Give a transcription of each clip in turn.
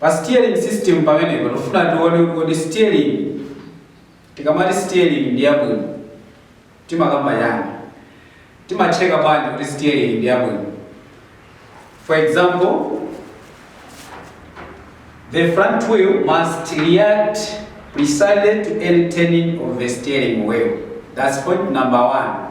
Pa steering system pamenepa tikufuna tione kuti steering tikamati steering ndi yabwino timakamba chani? Timachecka bwanji kuti steering ndi yabwino? For example, the front wheel must react precisely to any turning of the steering wheel. That's point number one.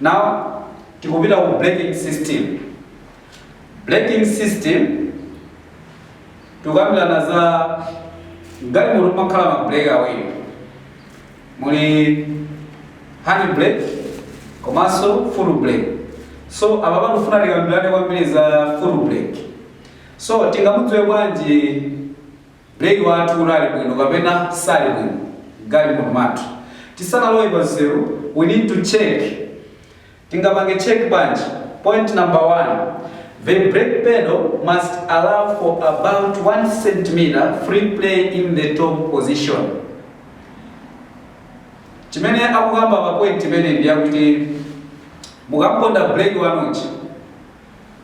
now tikupita ku braking system braking system tikukambirana za galimoto kumakhala ma brake awiri muli hand brake komanso foot brake so apa pano tikufuna tikambirane kwambiri za foot brake so tingamudziwe bwanji Breki wathu kuti ali bwino kapena sali bwino mgalimoto mwathu. Tisanalowe pa nsewu we need to check. Tingapange check bwanji? Point number 1, The brake pedal must allow for about 1 centimetre free play in the top position. Chimene akukamba pa point imeneyi ndi yakuti mukamponda breki wanu uja,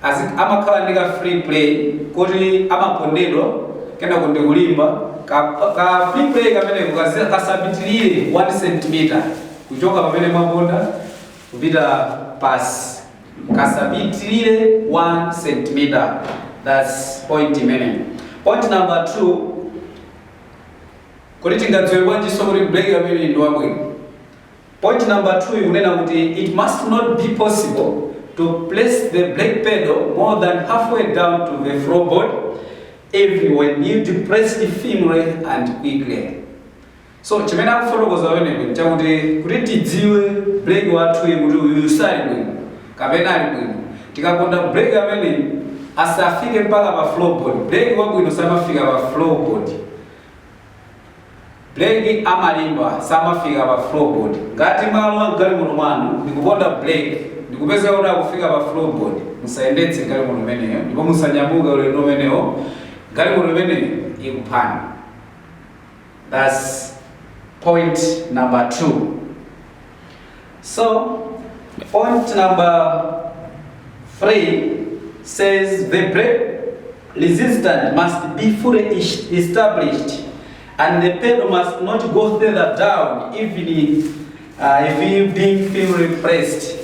Azi, amakhala ndi ka free play koti amapondedwa kenako ndi kulimba ka, ka free play kameneko kazi- kasapitirire 1 centimeter kuchoka pamene mwaponda kupita pasi kasapitirire 1 centimeter thats point imeneyo point number 2 kuti tingadziwe bwanjinso kuti break amene ndi wabwino Point number 2 ikunena kuti it must not be possible to press the brake pedal more than halfway down to the floorboard even when you depress it firmly and quickly. So chimene akufotokoza pamenepo nchakuti kuti tidziwe brake wathuyi kuti uyu sali bwino kapena ali bwino tikaponda brake amene asafike mpaka pa floorboard. Brake wabwino samafika pa floorboard. Brake amalimba samafika pa floorboard. Ngati mwalowa m'galimoto mwanu ndi kuponda brake ndi kupeza kuti akufika pa floorboard, musayendetse galimoto imeneyo ndipo musanyamuke ulendo umenewo, galimoto imeneyo ikuphani. That's point number two. So, point number three says the brake resistance must be fully es- established and the pedal must not go further down even if, uh, if you being firmly pressed.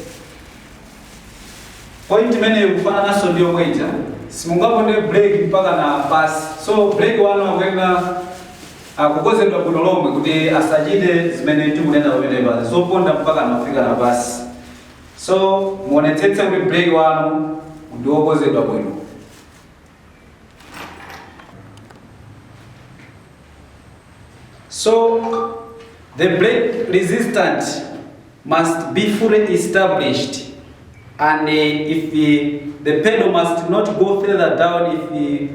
Point imeneyo kufanananso ndi yomwe ija simungaponde brake mpaka na pasi so brake wanu akuyenera Kukozedwa bwino lomwe kuti asachite zimene tikunena pamenepa zoponda mpakana kufikana pasi. So muonetsetse kuti brake wanu ndiwokozedwa bwino. So the brake resistant. must be fully established and if the pedal must not go further down if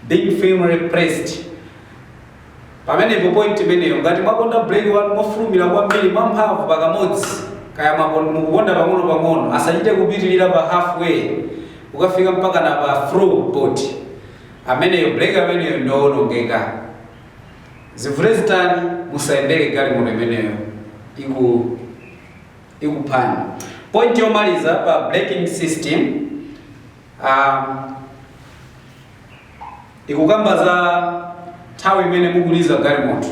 being firmly pressed pamenepo point imeneyo ngati mwaponda brake wanu mofulumira kwambiri mwamphamvu pakamodzi kaya mwapon- mukuponda pang'ono-pang'ono asachite kupitirira pa halfway kukafika mpaka na pa floorboard ameneyo brake ameneyo ndiowonongeka zivute zitani musayendere galimoto imeneyo ikuphani point yomaliza pa braking system um, ikukamba za nthawi imene mukuliza galimoto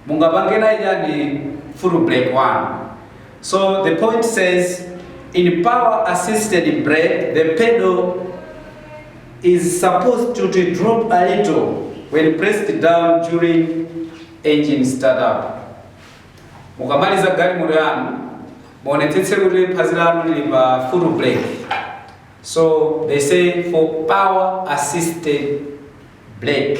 mungapange nayo chani foot brake one so the point says in power assisted brake the pedal is supposed to to drop a little when pressed down during engine startup mukamaliza galimoto yanu muonetsetse kuti phazi lanu lili pa foot brake so they say for power assisted brake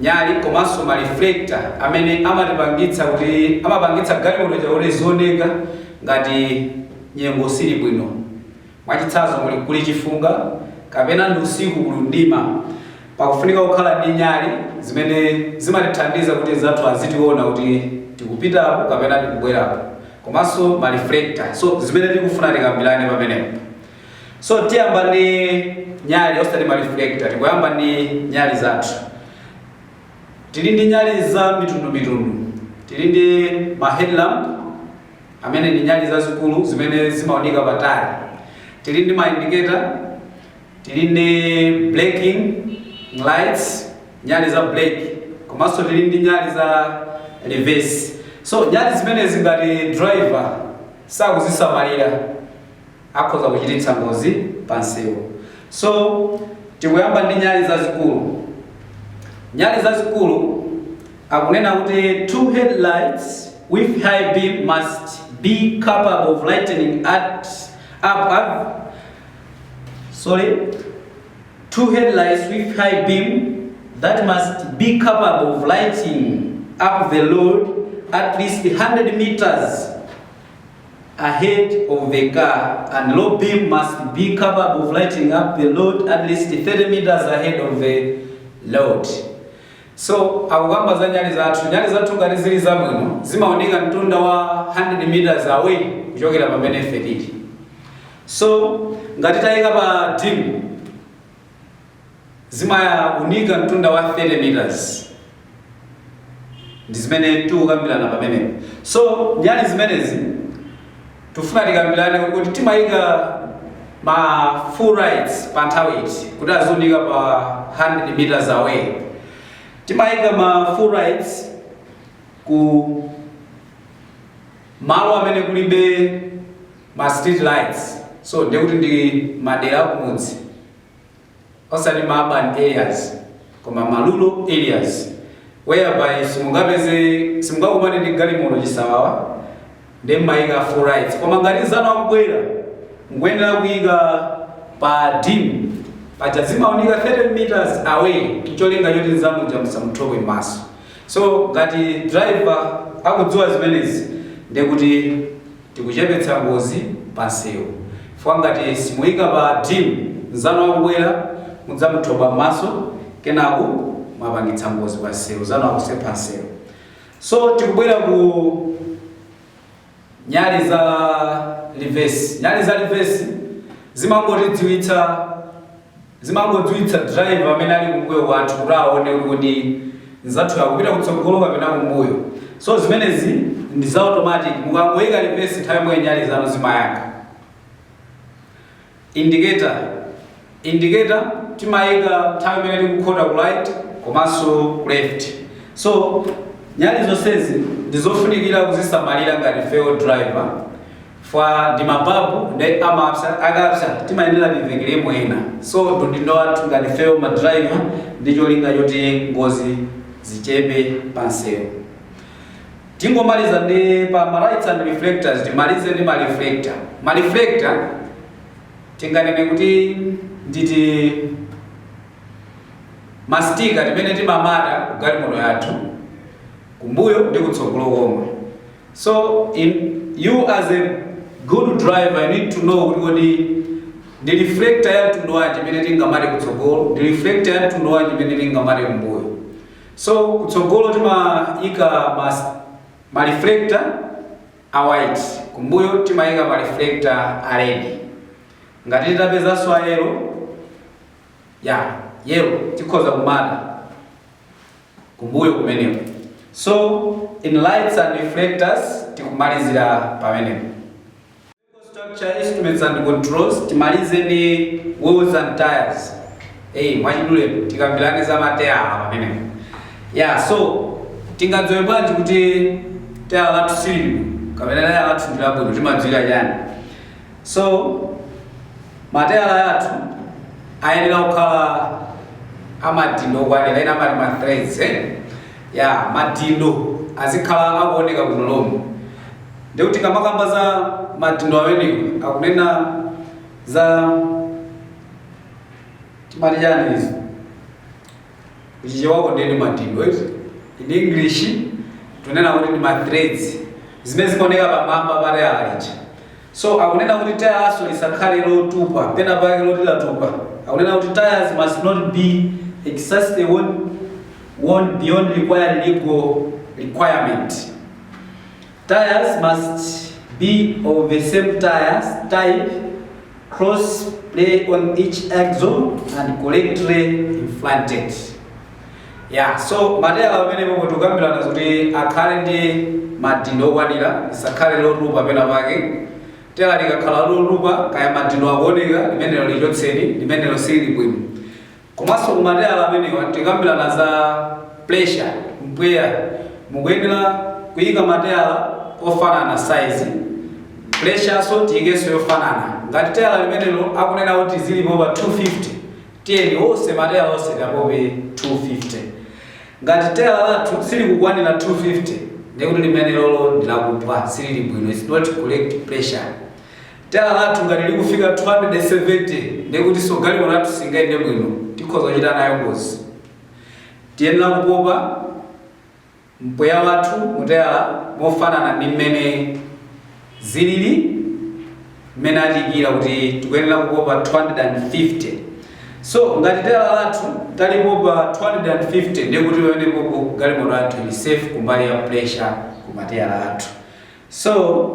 nyali komanso ma reflector amene amatipangitsa kuti amapangitsa galimoto ija kuti izioneka ngati nyengo sili bwino mwachitsanzo muli kuli chifunga kapena ndi usiku kuli mdima pakufunika kukhala ndi nyali zimene zimatithandiza kuti anzathu azitiona kuti tikupitapo kapena tikubwerapo komanso ma reflector so zimene tikufuna tikambirane pamenepo So tiyamba ndi nyali osati ma reflector, tikuyamba ndi nyali zathu. Tili ndi nyali za mitundu mitundu, tili ndi ma headlamp amene ndi nyali zazikulu zimene zimaunika patali, tili ndi ma indicator, tili ndi braking lights, nyali za brake, komanso tili ndi nyali za reverse. So nyali zimenezi ngati driver sakuzisamalira akhoza kuchititsa ngozi pa msewu. So, tikuyamba ndi nyali zazikulu. Nyali zazikulu akunena kuti two headlights with high beam must be capable of lightening up, up sorry two headlights with high beam that must be capable of lighting up the road at least 100 meters ahead of the car and low beam must be capable of lighting up the road at least 30 meters ahead of the road so akukamba za nyali zathu nyali zathu ngati zili zabwino zimaoneka mtunda wa 100 meters away kuchokera pamene ife tili so ngati taika pa dim Zimaunika mtunda wa 30 meters ndizimene tikukambirana pamenepo. So nyali zimenezi tufuna tikambirane kuti timayika ma full lights pa nthawi iti kuti aziunika pa 100 meters away. Timayika ma full lights ku malo amene kulibe ma street lights so ndekuti ndi madera akumudzi osati ma urban areas koma ma rural areas whereby simungapeze simungakumane ndi galimoto chisawawa nde mmayika full lights koma ngati nzanu akubwera mukuyenera kuyika pa dim paja zimaunika 30 meters away cholinga choti nzanu uja musamuthobwe mmaso so ngati driver akudziwa zimenezi ndekuti tikuchepetsa ngozi pa nsewu chifukwa ngati simuika pa dim nzanu akubwera mudzamuthobwa mmaso kenaku mwapangitsa ngozi pa nsewu nzanu akusempha nsewu so tikubwera ku nyali za livesi nyali za livesi zimangotidziwitsa Zimangodziwitsa driver amene ali kumbuyo kwathu kuti aone kuti nzathuyo akupita kutsogolo kapena kumbuyo. So zimenezi ndi za automatic mukangoika reverse nthawi yomweyo nyali zanu zimayaka. Indicator, Indicator timaika nthawi imene tikukhota ku right komanso ku left. So nyali zonsezi ndizofunikira kuzisamalira ngati ifeyo ma driver. fwa ndi mababu nde amapsa akapsa timayenera tivekeremo ena so ndi udindo wathu ngati ifeyo ma driver ndi cholinga choti ngozi zichepe pa nsewu. Tingomaliza ndi pa ma lights and reflectors timalize ndi ma reflector. Ma reflector tinganene kuti nditi mastika timene timamata ku galimoto yathu kumbuyo ndi kutsogolo komwe. So you as a good driver you need to know kuti kodi ndi reflector ya mtundu wanji imene tingamate kutsogolo ndi reflector ya mtundu wanji imene tingamate kumbuyo so kutsogolo timayika mas ma reflector a white kumbuyo timayika ma reflector a red ngati titapezanso a yellow ya yellow tikhoza kumata kumbuyo kumeneko. So in lights and reflectors tikumalizira pamenepo. Vehicle structure, instruments and controls timalize ndi wheels and tires. Hey, mwachidule tikambirane za mateyala pamenepo. Yeah, so tingadziwe bwanji kuti teyala lathu silili kapena teyala lathu ndi labwino timadziwira chani? So, mateyala athu ayenera kukhala amadindo okwanira ena amati ma threads eh? ya madindo azikhala akuoneka bwino lomwe ndikuti kamakamba za madindo amenewo akunena za timati chani izi Ku Chichewa ndiye ndi madindo eti. In English tunena kuti ndi ma threads zimene zimaoneka pamwamba pa tayala lija. So akunena kuti tayalanso lisakhale lotupa pena pake loti latupa. Akunena kuti tires must not be excessively worn, worn beyond required legal requirement. Tyres must be of the same tyres type, cross ply on each axle and correctly inflated. Yeah, so mateyala pamenepa tikukambirana kuti akhale ndi madindo okwanira lisakhale lotupa pena pake teyala likakhala lotupa kaya madindo akuoneka limenelo lichotseni limenelo silili bwino Komanso ku mateyala amenewa tikambirana za pressure, mpweya, mukuyenera kuyika mateyala ofanana size, pressurenso tiyikenso yofanana. Ngati teyala limenelo akunena kuti tizilipopa 250, tiyeni onse mateyala onse tiapope 250. Ngati teyala lathu silikukwanira 250 ndekuti limenelolo ndilakuphwa, silili bwino, it's not correct pressure. Tayala lathu ngati likufika 270 ndiye kutinso galimoto yathu singayende bwino, tikhoza kuchita nayo ngozi. Tiyenera kupopa mpweya wathu mu tayala mofanana ndi mmene zilili mmene atiikira kuti tikuyenera kupopa 250. So, ngati tayala lathu talipopa 250 ndiye kuti pamenepopo galimoto yathu ili safe kumbali ya pressure ku mateyala athu. So.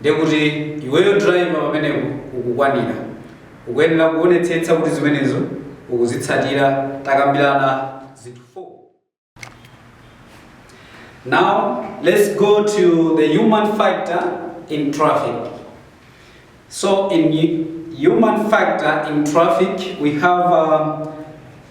Ndekuti iweyo driver pamenepo ukukwanira. Ukuyenera kuonetsetsa kuti zimenezo ukuzitsatira. Takambirana zinthu 4. Now let's go to the human factor in traffic. So in human factor in traffic we have uh,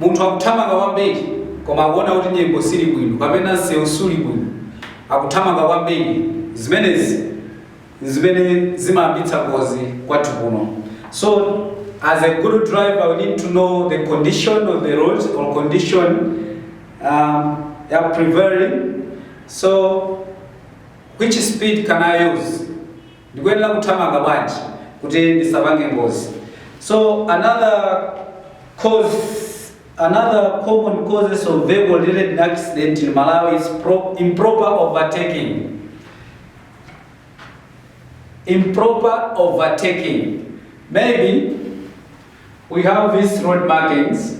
munthu akuthamanga kwambiri koma akuona kuti nyengo sili bwino kapena msewu suli bwino akuthamanga kwambiri zimenezi zimene zimayambitsa ngozi kwathu kuno so as a good driver we need to know the condition of the road or condition um, ya prevailing so which speed can i use Ndikuyenera kuthamanga bwanji kuti ndisapange ngozi? So another cause another common causes of vehicle related accident in Malawi is pro, improper overtaking. Improper overtaking. Maybe we have these road markings,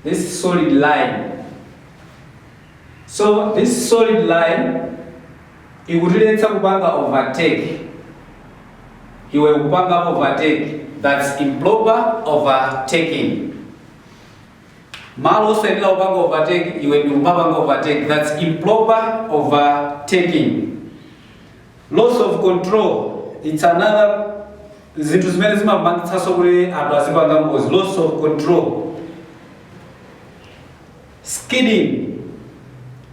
this solid line. So this solid line ikutiletsa kupanga overtake iwe nkupanga overtake that's improper overtaking malo osayenera kupanga overtake iwe ndi kumapanga overtake that's improper overtaking loss of control it's another zinthu zimene zimapangitsanso kuti anthu azipanga ngozi loss of control Skidding,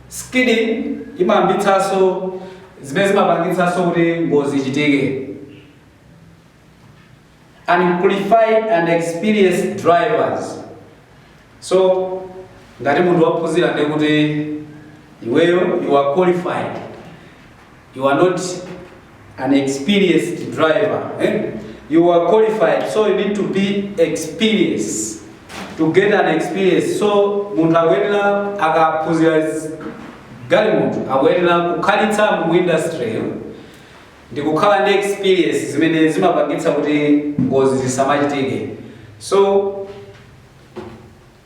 Skidding imayambitsanso zimene zimapangitsanso kuti ngozi ichitike. Unqualified and inexperienced drivers, so ngati munthu waphunzira ndiye kuti iweyo you are qualified. You are not an experienced driver. Eh? You are qualified, so you need to be experienced to get an experience. So munthu akuyenera akaphunzira zi- galimoto akuyenera kukhalitsa mu industry yo ndi kukhala ndi experience zimene zimapangitsa kuti ngozi zisamachitike. So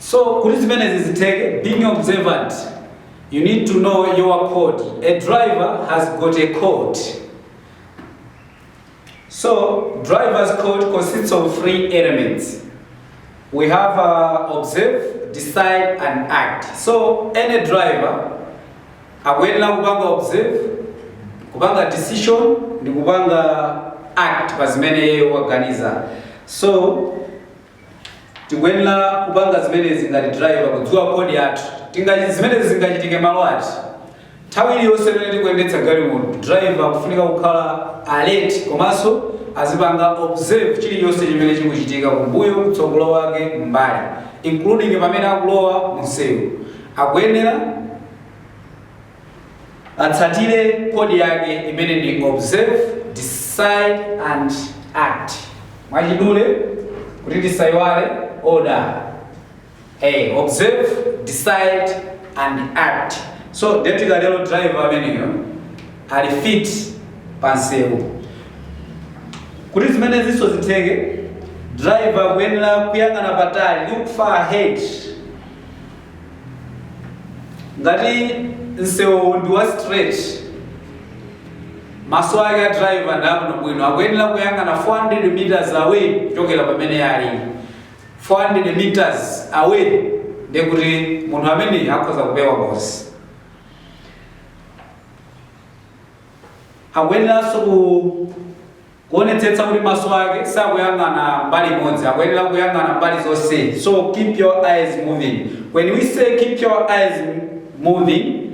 So kuti zimenezi zitheke, being observant, you need to know your code. A driver has got a code. So driver's code consists of three elements. We have uh, observe, decide and act. So any driver akuyenera kupanga observe, kupanga decision ndi kupanga act pa zimene iye waganiza. So Tikuyenera kupanga zimenezi ngati driver, kudziwa code yathu. Tingachi- zimenezi zingachitike malo ati? Nthawi iliyonse imene tikuyendetsa galimoto, driver akufunika kukhala alert komanso azipanga observe chilichonse chimene chikuchitika kumbuyo, kutsogolo kwake, m'mbali including pamene akulowa munsewu. Akuyenera. atsatire code yake imene ndi observe decide and act mwachidule kuti tisayiwale ODA, observe decide and act so nde tikatero driver ameneyo ali fit pansewu kuti zimenezinso zitheke driver akuyenera kuyang'ana patali look far ahead ngati msewuwu ndi wa straight maso ake a driver ndi abwino bwino akuyenera kuyang'ana 400 meters away kuchokera pamene ali 400 meters away ndiye kuti munthu ameneyi akhoza kupewa ngozi akuyeneranso ku Kuonetsetsa kuti maso ake sakuyang'ana mbali imodzi, akuyenera kuyang'ana mbali zonse. So keep your eyes moving. When we say keep your eyes moving,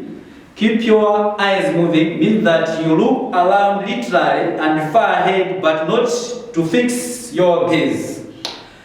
keep your eyes moving means that you look around laterally and far ahead but not to fix your gaze.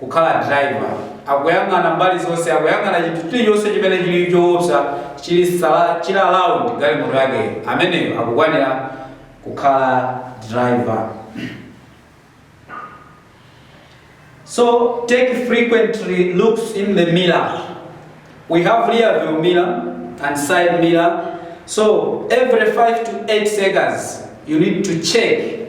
kukhala driver akuyang'ana mbali zonse akuyang'ana chinthu chilichonse chimene chili choopsa chili around galimoto yake ameneyo akukwanira kukhala driver So take frequently looks in the mirror. We have rear view mirror and side mirror. So every 5 to 8 seconds you need to check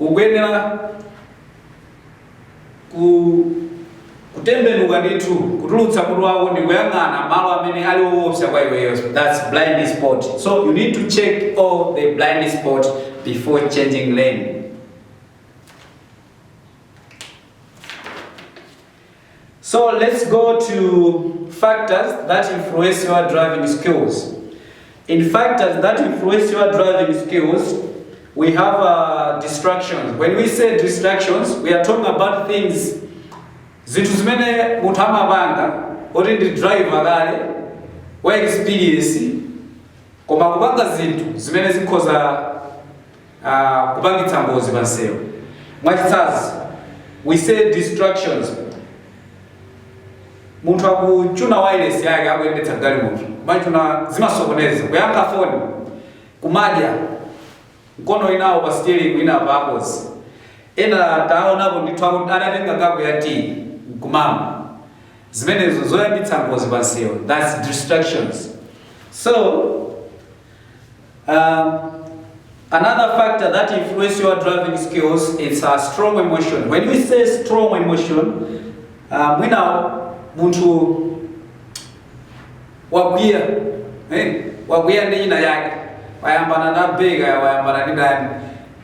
Ukuyenera kutembenuka ndithu, kutulutsa mutu wako ndi kuyang'ana malo amene ali owopsa kwa iweyo. That's blind spot. So you need to check all the blind spot before changing lane. So let's go to factors that influence your driving skills. In factors that influence your driving skills, we have uh, distractions. When we say distractions, we are talking about things zinthu zimene munthu amapanga oti ndi driver kale wa experience koma kupanga zinthu zimene zikhoza kupangitsa ngozi pa msewu. Mwachitsanzo, we say distractions, munthu akuchuna wireless yake akuyendetsa galimoto kumachuna, zimasokoneza kuyankha foni, kumadya mkono inawo pa steering ina pa apozi. Ena taonapo ndithu aku- anatenga kapu ya tea nkumama, zimenezo zoyambitsa ngozi pa msewu, that's distractions. So Um, Another factor that influences your driving skills is a strong emotion. When we say strong emotion, uh, we now want to wagwia eh wagwia ndi ina yake wayambana na bega wayambana ndi ndani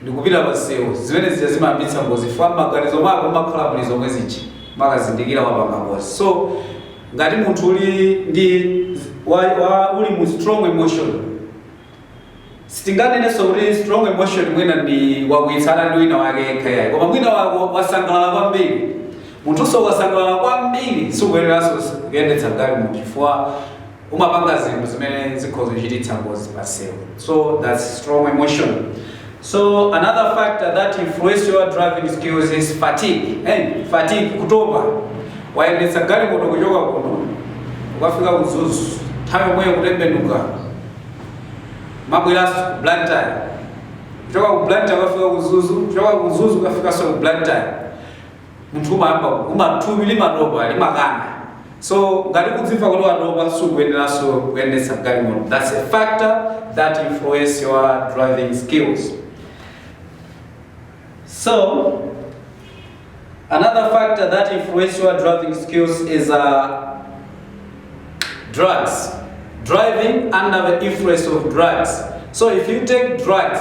ndikupita pa nsewu zimene zija zimayambitsa ngozi chifukwa mmaganizo mwako mmakhala muli zomwe zija mukazindikira wapanga ngozi so ngati munthu uli ndi wa, wa, uli mu strong emotion sitinganenenso kuti strong emotion mwina ndi wakwiyitsana ndi wina wake yekha yayi koma mwina wasangalala kwambiri munthunso wasangalala kwambiri sikuyeneranso kuyendetsa galimoto chifukwa umapanga zinthu zimene zikhoza kuchititsa ngozi pa msewu so that's strong emotion so another factor that influence your driving skills is fatigue hey, fatigue kutopa wayendetsa galimoto kuchoka kuno ukafika ku Mzuzu nthawi yomweyo kutembenuka kumabweranso Blantyre kuchoka ku Blantyre ukafika ku Mzuzu kuchoka ku Mzuzu ukafikanso ku Blantyre munthu umayamba kuguma thupi limatopa limakana so ngati kudzimva kuti watopa sukuyeneranso kuyendetsa galimoto that's a factor that influence your driving skills so another factor that influence your driving skills is uh, drugs driving under the influence of drugs so if you take drugs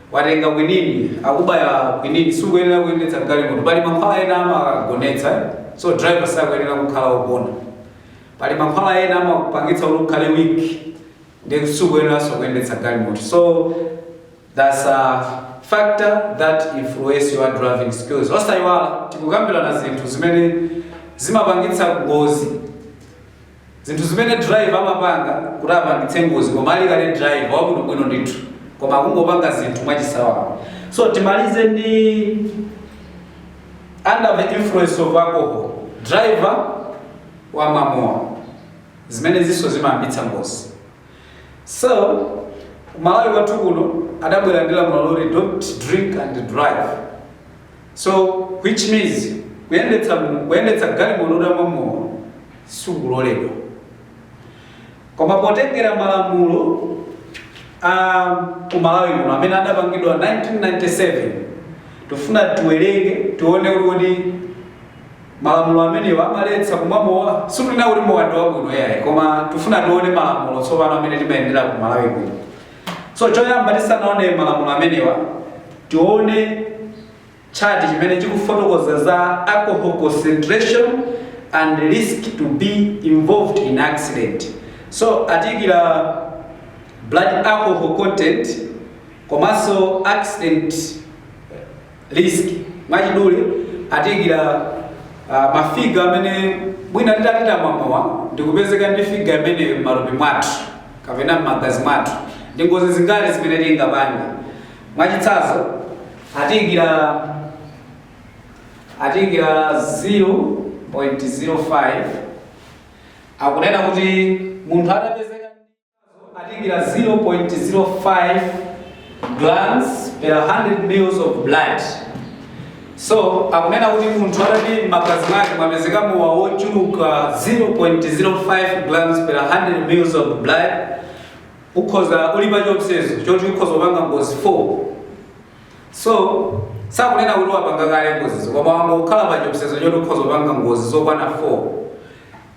watenga kwinini akubaya kwinini sukuyenera kuyendetsa galimoto pali mankhwala ena amagonetsa so driver sakuyenera kukhala wogona pali mankhwala ena amakupangitsa kuti ukhale weak ndi sukuyeneranso kuyendetsa galimoto so that's a factor that influence your driving skills osayiwala tikukambirana zinthu zimene zimapangitsa ngozi Zinthu zimene driver amapanga kuti apangitse ngozi koma ali kale driver wabwinobwino ndithu koma kungopanga zinthu mwachisawawa. So timalize ndi under the influence of alcohol driver wamwa mowa zimenezinso zimayambitsa ngozi. So Malawi kwathu kuno adabwera ndi lamulo loti don't drink and drive. So which means kuyendetsa galimoto utamwa mowa sikuloledwa. Koma potengera malamulo a ku Malawi kuno amene adapangidwa 1997 tifuna tiwerenge tione kuti Malamulo amenewa amaletsa kumwa mowa. Sitikunena kuti mowa ndi wabwino yayi, koma tifuna tione malamulo tsopano amene timayendera ku Malawi kuno. So choyamba tisanaone malamulo amenewa, tione chati chimene chikufotokoza za alcohol concentration and risk to be involved in accident. So atiyikira blood alcohol content komanso accident risk. Mwachidule atiikira uh, mafiga amene mwina titati tamwamowa ndikupezeka ndi figa imeneyi m'matupi mwathu kapena m'magazi mwathu ndi ngozi zingati zimene tingapange. Mwachitsanzo atiikira atiikira 0.05 akunena kuti munthu atapezeka atiikira 0.05 grams per 100 mils of blood so akunena kuti munthu atati m'magazi mwake mwapezeka mowa wochuluka 0.05 grams per 100 mils of blood ukhoza uli pa chiopsezo choti ukhoza kupanga ngozi 4 so sakunena kuti wapanga kale ngozizo koma wangokhala pa chiopsezo choti ukhoza kupanga ngozi zokwana 4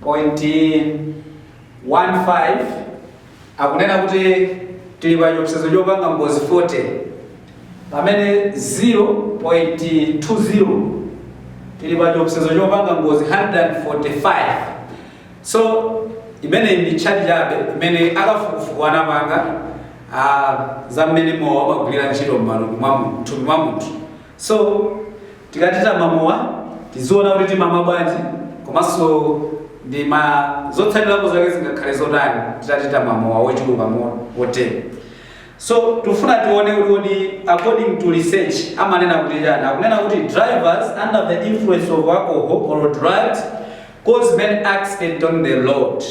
Point 1 5 akunena kuti tili pa chiopsezo chopanga ngozi 40 pamene 0.20 tili pa chiopsezo chopanga ngozi 145 so imeneyi ndi tchati chabe imene akafukufuku anapanga ah, za mmene mowa umagwirira ntchito m'malungu mwa munthu thupi mwa munthu so Tikati timwe mowa tiziona kuti timamwa bwanji komanso ndi ma zotsatirapo zake zingakhale zotani titati tamwa mowa wochuluka motere. So tikufuna tione kuti kodi according to research amanena kuti chani. Akunena kuti drivers under the influence of alcohol or drugs cause many accidents on the road.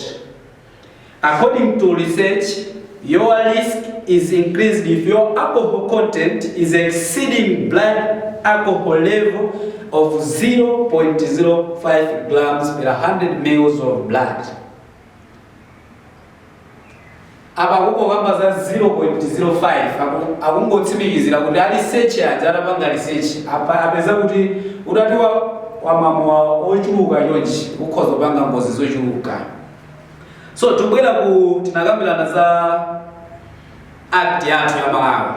According to research, your risk is increased if your alcohol content is exceeding blood alcohol level of 0.05 grams per 100 mils of blood. apa akungokamba za 0.05 aku- akungotsimikizira kuti a research aja atapanga research apa apeza kuti utati wa- wamwa mowa wochuluka chonchi ukhoza kupanga ngozi zochuluka So tibwera ku tinakambirana za act yathu ya Malawi,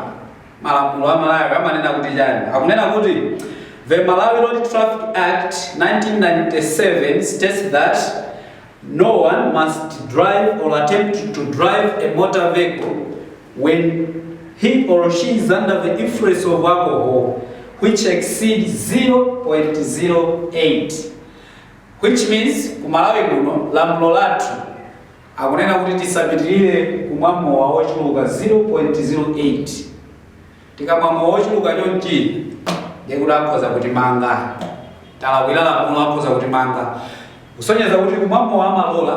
malamulo a Malawi amanena kuti chani? Akunena kuti the Malawi Road Traffic Act 1997 states that no one must drive or attempt to drive a motor vehicle when he or she is under the influence of alcohol which exceeds 0.08 Which means ku Malawi kuno lamulo lathu akunena kuti tisapitilire kumwa mowa wochuluka 0.08. Tikamwa mowa wochuluka chonchi ndiye kuti akhoza kutimanga. Talakwira lamulo akhoza kutimanga. Kusonyeza kuti kumwa mowa amalola.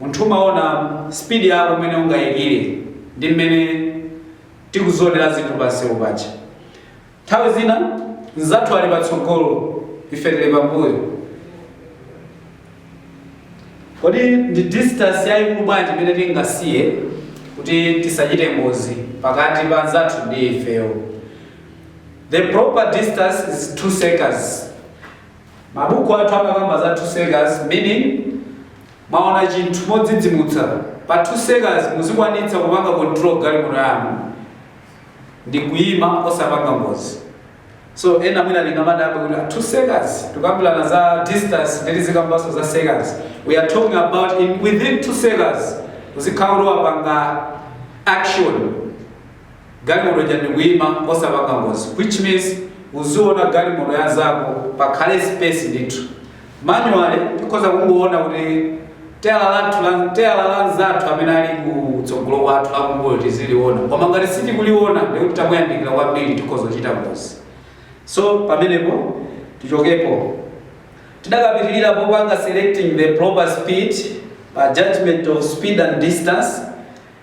Munthu umaona speed yako mmene ungayikire ndi mmene tikuzionera zinthu pa msewu paja. Nthawi zina mnzathu ali patsogolo, ife tili pambuyo. Kodi ndi distance yayikulu bwanji imene tingasiye kuti tisachite ngozi pakati pa mnzathu ndi ifeyo? The proper distance is 2 seconds. Mabuku athu amakamba za 2 seconds meaning mwaona chinthu modzidzimutsa pa 2 seconds muzikwanitsa kupanga control galimoto yanu ndikuima osapanga ngozi. So ena mwina angamadabwe kuti a 2 seconds tikukambirana za distance nde tizikambaso za seconds. We are talking about in within 2 seconds uzikhala kuti wapanga action. Galimoto ija ndikuima osapanga ngozi which means uziona galimoto ya nzako pakhale space ndithu. Manually tikhoza kungoona kuti teyala lathu la teyala la nzathu amene ali ku tsogolo kwathu la kumbuyo tiziliona koma ngati sitikuliona ndiye kuti tamuyandikira kwambiri tikhoza kuchita ngozi. So pamenepo tichokepo. Tidakapitirira popanga selecting the proper speed pa judgement of speed and distance.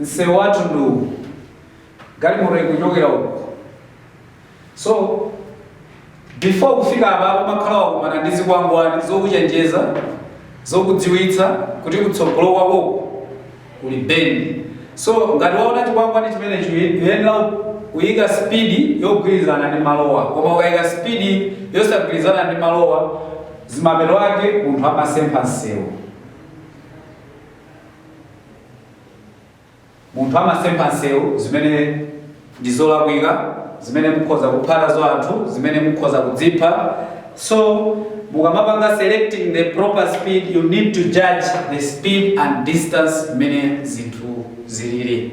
msewu wathu ndi uwu galimoto ikuchokera uku so before kufika apa umakhala wakumana ndi zikwangwani zokuchenjeza zokudziwitsa kuti kutsogolo kwako kuli bend so ngati waona chikwangwani chimenecho uyenera kuyika spidi yogwirizana ndi malowa koma ukayika spidi yosagwirizana ndi malowa zimapeto ake munthu amasempha msewu munthu amasempha nsewu zimene ndi zolakwika zimene mukhoza kupha nazo anthu zimene mukhoza kudzipha so mukamapanga selecting the proper speed you need to judge the speed and distance mmene zinthu zilili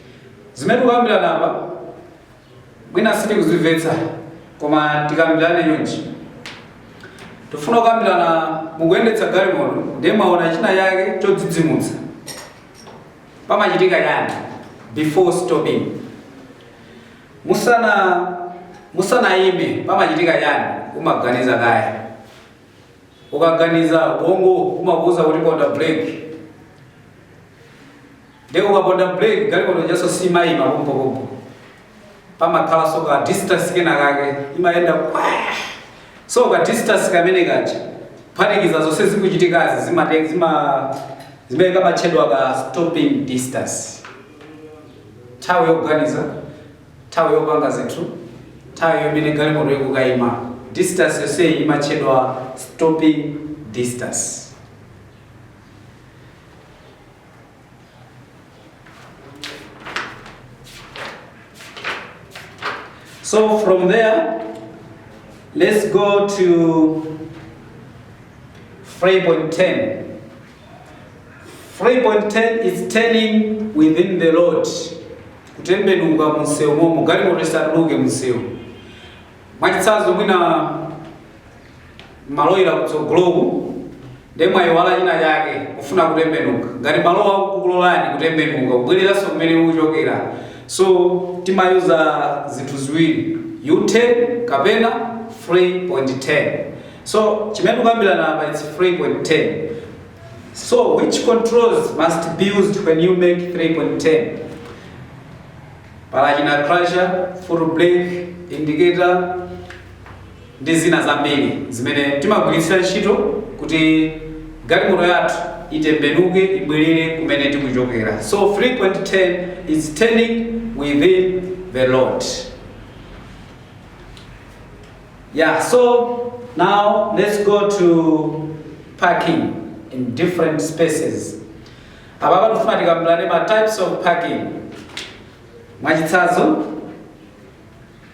Zimene tikukambirana apa mwina sitikuzimvetsa koma tikambirane chonchi. Tifuna kukambirana mukuyendetsa galimoto ndiye mwaona china chake chodzidzimutsa. Pamachitika chani before stopping? Musana musanayime pamachitika chani? Umaganiza kaye. Ukaganiza ubongo umakuuza kuti ponda breki. Nde ukaponda brake galimoto ijaso simayima pompo pompo pamakhalaso ka distance kena kake imayenda kwaa so ka distance kamene ukaphatikiza zonse zikuchitikazi zimene kamatchedwa ka stopping distance nthawi yoganiza nthawi yopanga zinthu nthawi imene galimoto ikukayima distance yonseyi imatchedwa stopping distance So from there, let's go to 3.10. 3.10 is turning within the road. Kutembenuka munsewu momo, galimoto isatuluke munsewu. Mwachitsanzo mwina mwaloyira kutsogoloku nde mwayiwala china chake kufuna kutembenuka ngati malowo akukulolani kutembenuka kubwereranso kumene mukuchokera so timayuza zinthu ziwiri U-turn kapena 3-point turn so chimene tikukambirana apa it's 3-point turn so which controls must be used when you make 3-point turn pali china clutch foot brake indicator ndi zina zambiri zimene timagwiritsira ntchito kuti galimoto yathu itembenuke ibwerere kumene tikuchokera so 3-point turn is turning within the road yeah so now let's go to parking in different spaces apapa ndifuna tikambirane ma types of parking mwachitsanzo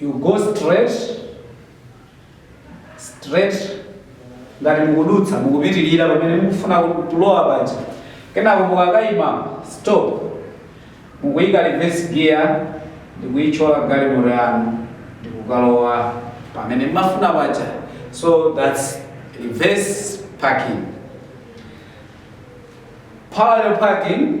You go straight, straight ngati mukudutsa mukupitirira pamene mukufuna kulowa paja kenako mukakaima stop mukuyika reverse gear ndikuyitchola galimoto yanu ndikukalowa pamene mmafuna paja so that's reverse parking parallel parking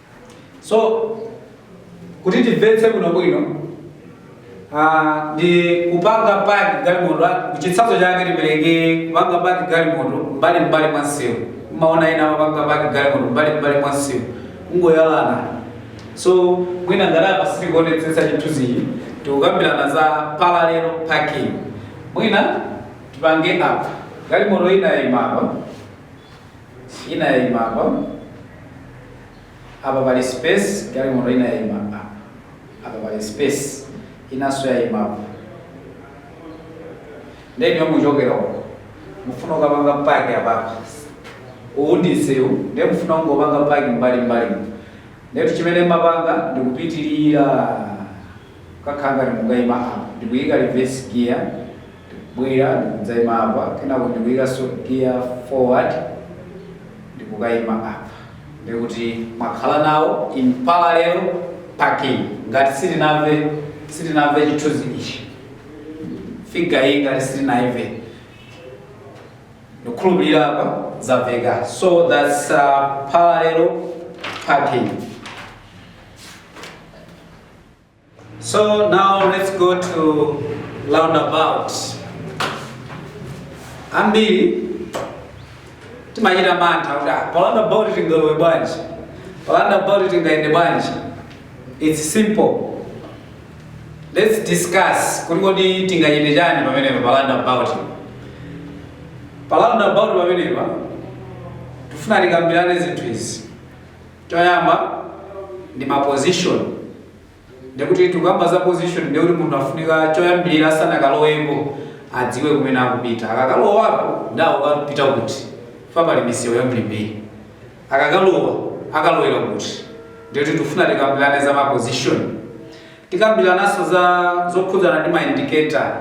so kuti timvetse bwinobwino ah, ndi kupanga paki galimoto chitsanzo chake tipereke kupanga paki galimoto mbali mbali mwa msewu mumaona ena amapanga paki galimoto mbali mbali mwa msewu kungoyalana so mwina ngati apa sichikuonetsetsa chithunzichi tikukambirana za parallel parking mwina tipange apa galimoto ina yayima apa ina yaima apa, apa pali space, galimoto ina yaima apa, apa pali space, inanso yaima apa. Nde inuyo muchokera uko, mufuna kukapanga paki apapa, uwu ndi msewu, nde mufuna kungopanga paki mbali mbali. Ndetu chimene mmapanga ndikupitirira kakhanga ndikukaima apa, ndikuyika reverse gear Ndikubwera, ndikudzaima apa, kenako ndikuikanso giya forward, ndi kukaima apa. Ndiye kuti mwakhala now in parallel parking. Ngati sitinamve, sitinamve chithunzi ichi, figure iyi ngati sitinaimve, ndikukhulupirira apa zamveka. So that's uh, parallel parking. So now let's go to roundabout. Ambiri timachita mantha kuti ah, pa roundabout tingalowe bwanji? Pa roundabout tingayende bwanji? It's simple. Let's discuss kuti kodi tingachite chani pamenepa pa roundabout. Pa roundabout pamenepa tifuna tikambirane zinthu izi. Choyamba ndi ma position, ndekuti tikukamba za position ndekuti munthu afunika choyambirira asanakalowepo adziwe kumene akupita. Akakalowapo ndi akukapita kuti, fa pali misewu yambirimbiri. Akakalowa akalowera kuti, ndekuti tikufuna tikambirane za ma position. Tikambirananso za zokhudzana ndi ma indicator,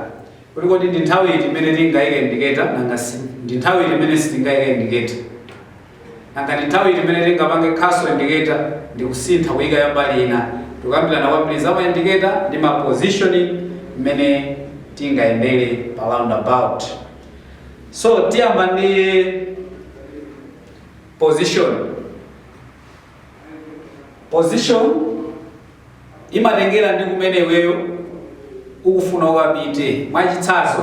kuti kodi ndi nthawi iti imene tingayike indicator nanga ndi nthawi iti imene sitingayike indicator. Nanga ndi nthawi iti imene tingapange cancel indicator ndi kusintha kuyika ya mbali ina? Tikukambirana kwambiri za ma indicator ndi ma positioning mmene tingayendere pa roundabout. So tiyamba ndi position. Position imatengera ndi kumene iweyo ukufuna ukapite. Mwachitsanzo,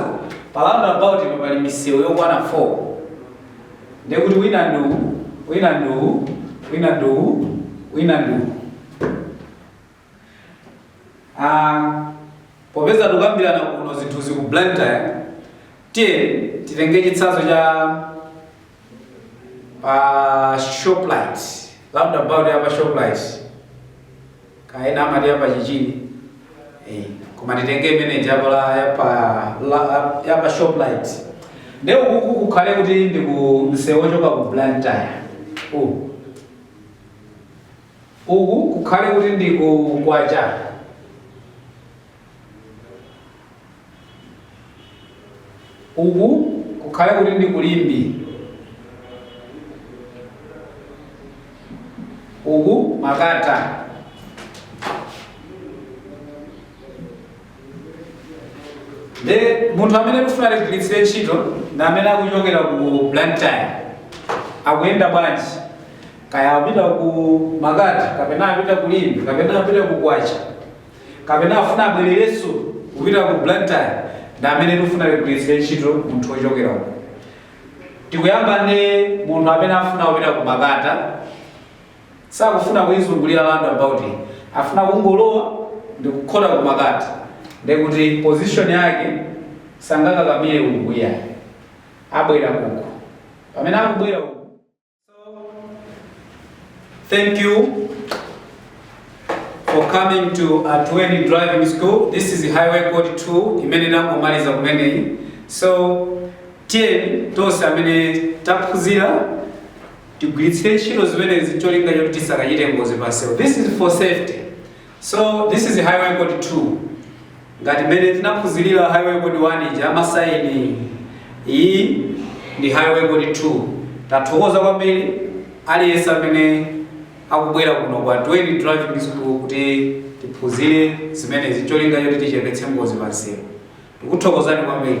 pa roundabout pano pali misewu yokwana 4 ndiye kuti wina ndi uwu, wina ndi uwu, wina ndi uwu, wina ndi uwu. Aaa popeza tikukambirana kuno zinthuzi ku Blantyre tiyeni titenge chitsanzo cha pa Shoprite, roundabout ya pa Shoprite kaya ena amati ya pa Chichiri eh, koma titenge imene ija pa la- ya pa la- ya pa Shoprite nde uku kukhale kuti ndi ku msewu wochoka ku Blantyre uku Uku kukhale kuti ndi ku Kwacha. Uku kukhale kuti ndi ku Limbe. Uku Makata. nde munthu amene tikufuna tigwiritsire ntchito ndi amene akuchokera ku Blantyre akuyenda bwanji kaya apita ku Makata kapena apita ku Limbe kapena apita ku Kwacha kapena afuna abwererenso kupita ku Blantyre ndi amene tikufuna tigwiritsire ntchito munthu wochokera uko tikuyamba ndi munthu amene afuna kupita ku Makata sakufuna kuizungulira roundabout iyi afuna kungolowa ndikukhota kumakati ndekuti position yake sangakakamire uku iyayi abwera uku pamene akubwera uku Thank you for coming to Atuweni Driving School. This is Highway Code 2 imene ndangomaliza kumeneyi. So, tiyeni tonse amene taphunzira tigwiritsire ntchito zimenezi cholinga choti tisakachite ngozi pa msewu this is for safety so this is highway code 2 ngati mmene tinaphunzirira highway code 1 ija amasaini iyi ndi highway code 2 tathokoza kwambiri aliyense amene akubwera kuno kwa Atuweni driving school kuti tiphunzire zimenezi cholinga choti tichepetse ngozi pa msewu tikuthokozani kwambiri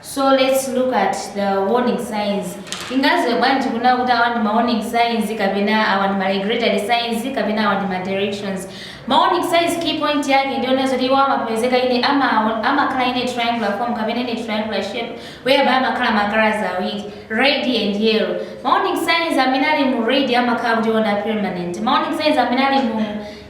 So lets look at the warning signs. Tingaziwe bwanji kunena kuti awa ndi ma warning signs kapena awa ndi ma regulatory signs kapena awa ndi ma directions. Ma warning signs key point yake ndi yonena kuti iwo amapezeka in a ama amakhala in a triangular form kapena in a triangular shape whereby amakhala ma colors awiri red and yellow. Ma warning signs amene ali mu red amakhala kuti iwowa ndi a permanent. Ma warning signs amene ali mu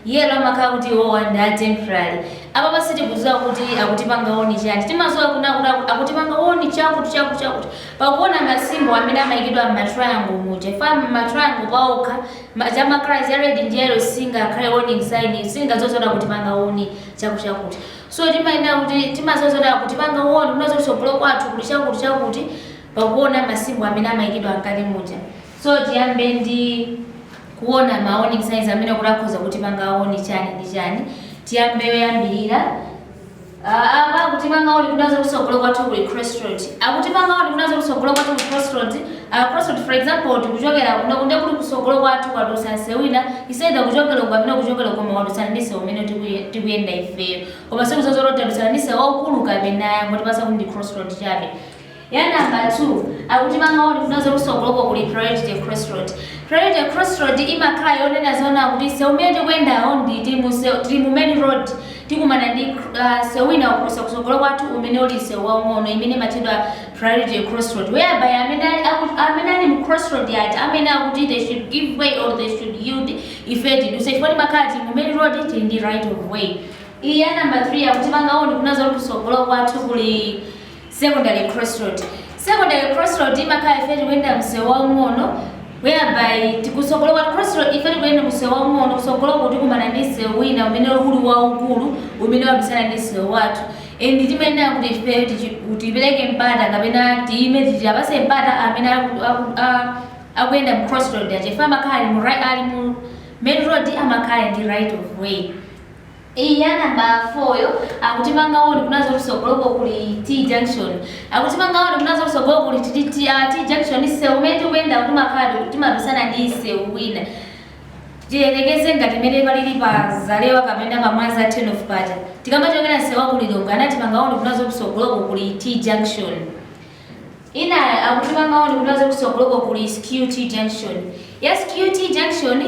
yellow amakhala kuti iwowa ndi a temporary. Apapa sitikuziwa kuti akutipanga warn chani. Timaziwa kunena kuti akutipanga warn chakuti chakuti chakuti. Pakuona ma symbol amene amayikidwa mma triangle muja. Chifukwa ma triangle paokha ma za ma colors ya red ndi yellow singakhale warning sign. Sitingaziwe zoti akutipanga warn chakuti chakuti. So timayenera kuti timaziwa zoti akutipanga warn kunena zoti kutsogolo kwathu kuli chakuti chakuti pakuona ma symbol amene amayikidwa mkati muja. So tiyambe ndi kuona ma warning signs amene kuti akhoza kutipanga warn chani ndi chani tiyambe yoyambirira Ah, apa akutipanga warn kunena zoti kusogolo kwathu kuli crossroad akutipanga warn kunena zoti kusogolo kwathu kuli crossroad Ah, crossroad for example tikuchokera kuno nde kuti kusogolo kwathu kwadusa nsewu wina it's either kuchokera uko kapena kuchokera uko koma wadusa ndi sewu umene tikuye- tikuyenda ifeyo koma sitikuziwa zoti tadusana ndi sewu waukulu kapena ayi angotipasa kuti ndi crossroad chabe ya number 2 akutipanga warn kunena zoti kusogoloko kuli priority crossroad priority crossroad imakhala yonena zona kuti sewu umene tikuyendawo ndi tili mu sewu- tili mu main road tikumana ndi uh, sewu wina ukudusa kusogolo kwathu umene uli sewu waung'ono imene imatchedwa priority crossroad whereby amene ali- aku- amene ali mu crossroad yati amene akuti they should give way or they should yield ife tiduse chifukwa timakhala tili mu main road tili ndi right of way iya number 3 akutipanga warn kunena zoti kusogolo kwathu kuli Secondary crossroad Secondary crossroad imakhala ife tikuyenda msewu waung'ono whereby kutsogolo kwa crossroad ife tikuyenda msewu waung'ono kutsogoloko tikumana ndi msewu wina umene uli waukulu umene wadusana ndi msewu wathu and timayenera kuti ife tipereke mpata kapena tiime tiwapase mpata amene aku, aku, a, akuyenda mu crossroad chifukwa amakhala ali mu, ali mu main road amakhala ndi right of way Eya number 4 yo akutipanga warn kunena zoti kusogoloko kuli T junction. Akutipanga warn kunena zoti kusogoloko kuli T, T, uh, T junction nsewu umene tikuyenda timakhala kuti timadusana ndi nsewu wina. Tiyerekeze ngati mene palili pa Zalewa kapena pa Mwanza turn off paja. Tikamachokera nsewu wa ku Lilongwe amatipanga warn kunena zoti kusogoloko kuli T junction. Inayo akutipanga warn kunena zoti kusogoloko kuli skew T junction. Ya skew T junction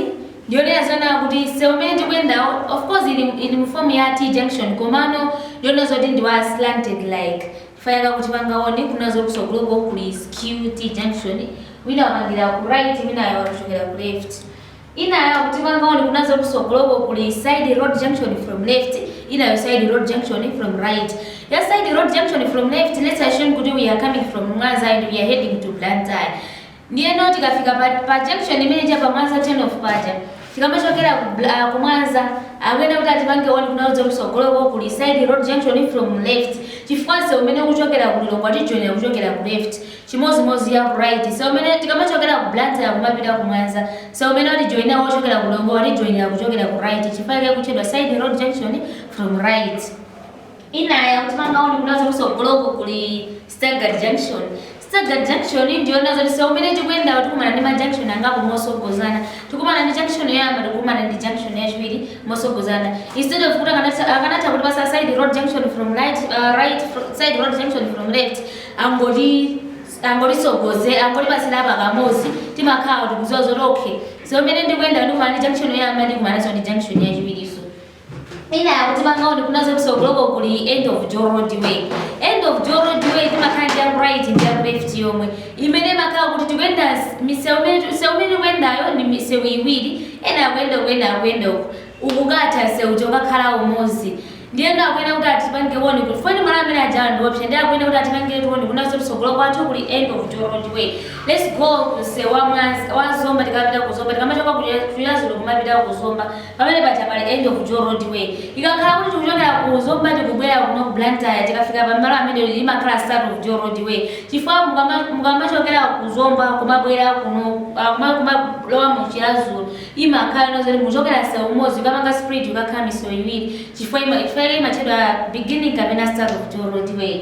ndiyonena zona kuti sewu umene tikuyendawo of course ili ili mu form ya T junction komano ndiyonena zoti ndi wa slanted like chifukwa chake akutipanga warn kunena zoti kusogoloko kuli skew T junction wina wapangira ku right wina wakuchokera ku left. Inayo akutipanga warn kunena zoti kusogoloko kuli side road junction from left, inayo side road junction from right. Ya side road junction from left let's assume kuti we are coming from Mwanza and we are heading to Blantyre. Ndiyeno tikafika pa, pa junction imene ija pa Mwanza turn off paja. Tikamachokera ku, Bla- ku Mwanza amayenera kuti atipange warn kunena zoti kusogoloko kuli side road junction from left. Chifukwa nsewu umene ukuchokera ku Lilongwe atijoyina kuchokera ku left. Chimodzimodzi ya ku right. Sewu umene tikamachokera ku Blantyre kumapita ku Mwanza. Sewu umene watijoinira wochokera ku Lilongwe watijoinira kuchokera ku right chifukwa chake ikutchedwa side road junction from right. Inayo akutipanga warn kunena zoti kusogoloko kuli staggered junction. Staggered junction ndiyonena zoti sewu umene tikuyendawo tikumana ndi ma junction angapo mosogozana. Tikumana ndi junction yoyamba tikumana ndi junction yachiwiri mosogozana. Instead of kuti akanatha akanatha kutipasa side road junction from right uh, right fro- side road junction from left angotitsogoza angotipasira pakamozi timakhala kuti tikuziwa zoti okay sewu umene ndikuyendawu ndikumana ndi junction yoyamba ndikumanaso ndi junction yachiwiriso inayo akutipanga warn kunena zoti kusogoloko kuli end of dual roadway end of dual roadway timakhala ndi yaku right ndi yaku left yomwe imene imakhala kuti tikuyenda s- misewu imene misewu imene ikuyendayo ndi misewu iwiri ena akuyenda uku ena akuyenda uku ukukatha msewu ukakhala umozi Ndiyeno akuyenera kuti atipange warn kuti chifukwa malo amene ajawa ndi oopsa ndiye akuyenera kuti atipangiretu warn kunena zoti kutsogolo kwathu kuli end of dual roadway let's go ku msewu wa mwanza wa zomba tikapita ku zomba tikamachoka ku Chiradzulu kumapita ku zomba pamene paja pali end of dual roadway ikakhala kuti tikuchokera ku zomba tikubwera kuno ku Blantyre tikafika pa malo amene imakhala start of dual roadway chifukwa mukama mukamachokera ku zomba kumabwera kuno ah, kuma- kumalowa mu Chiradzulu imakhala nthawi zoti mukuchokera msewu umodzi kukapanga split kukakhala misewu iwiri chifukwa ima chifukwa chake imatchedwa beginning kapena start of dual roadway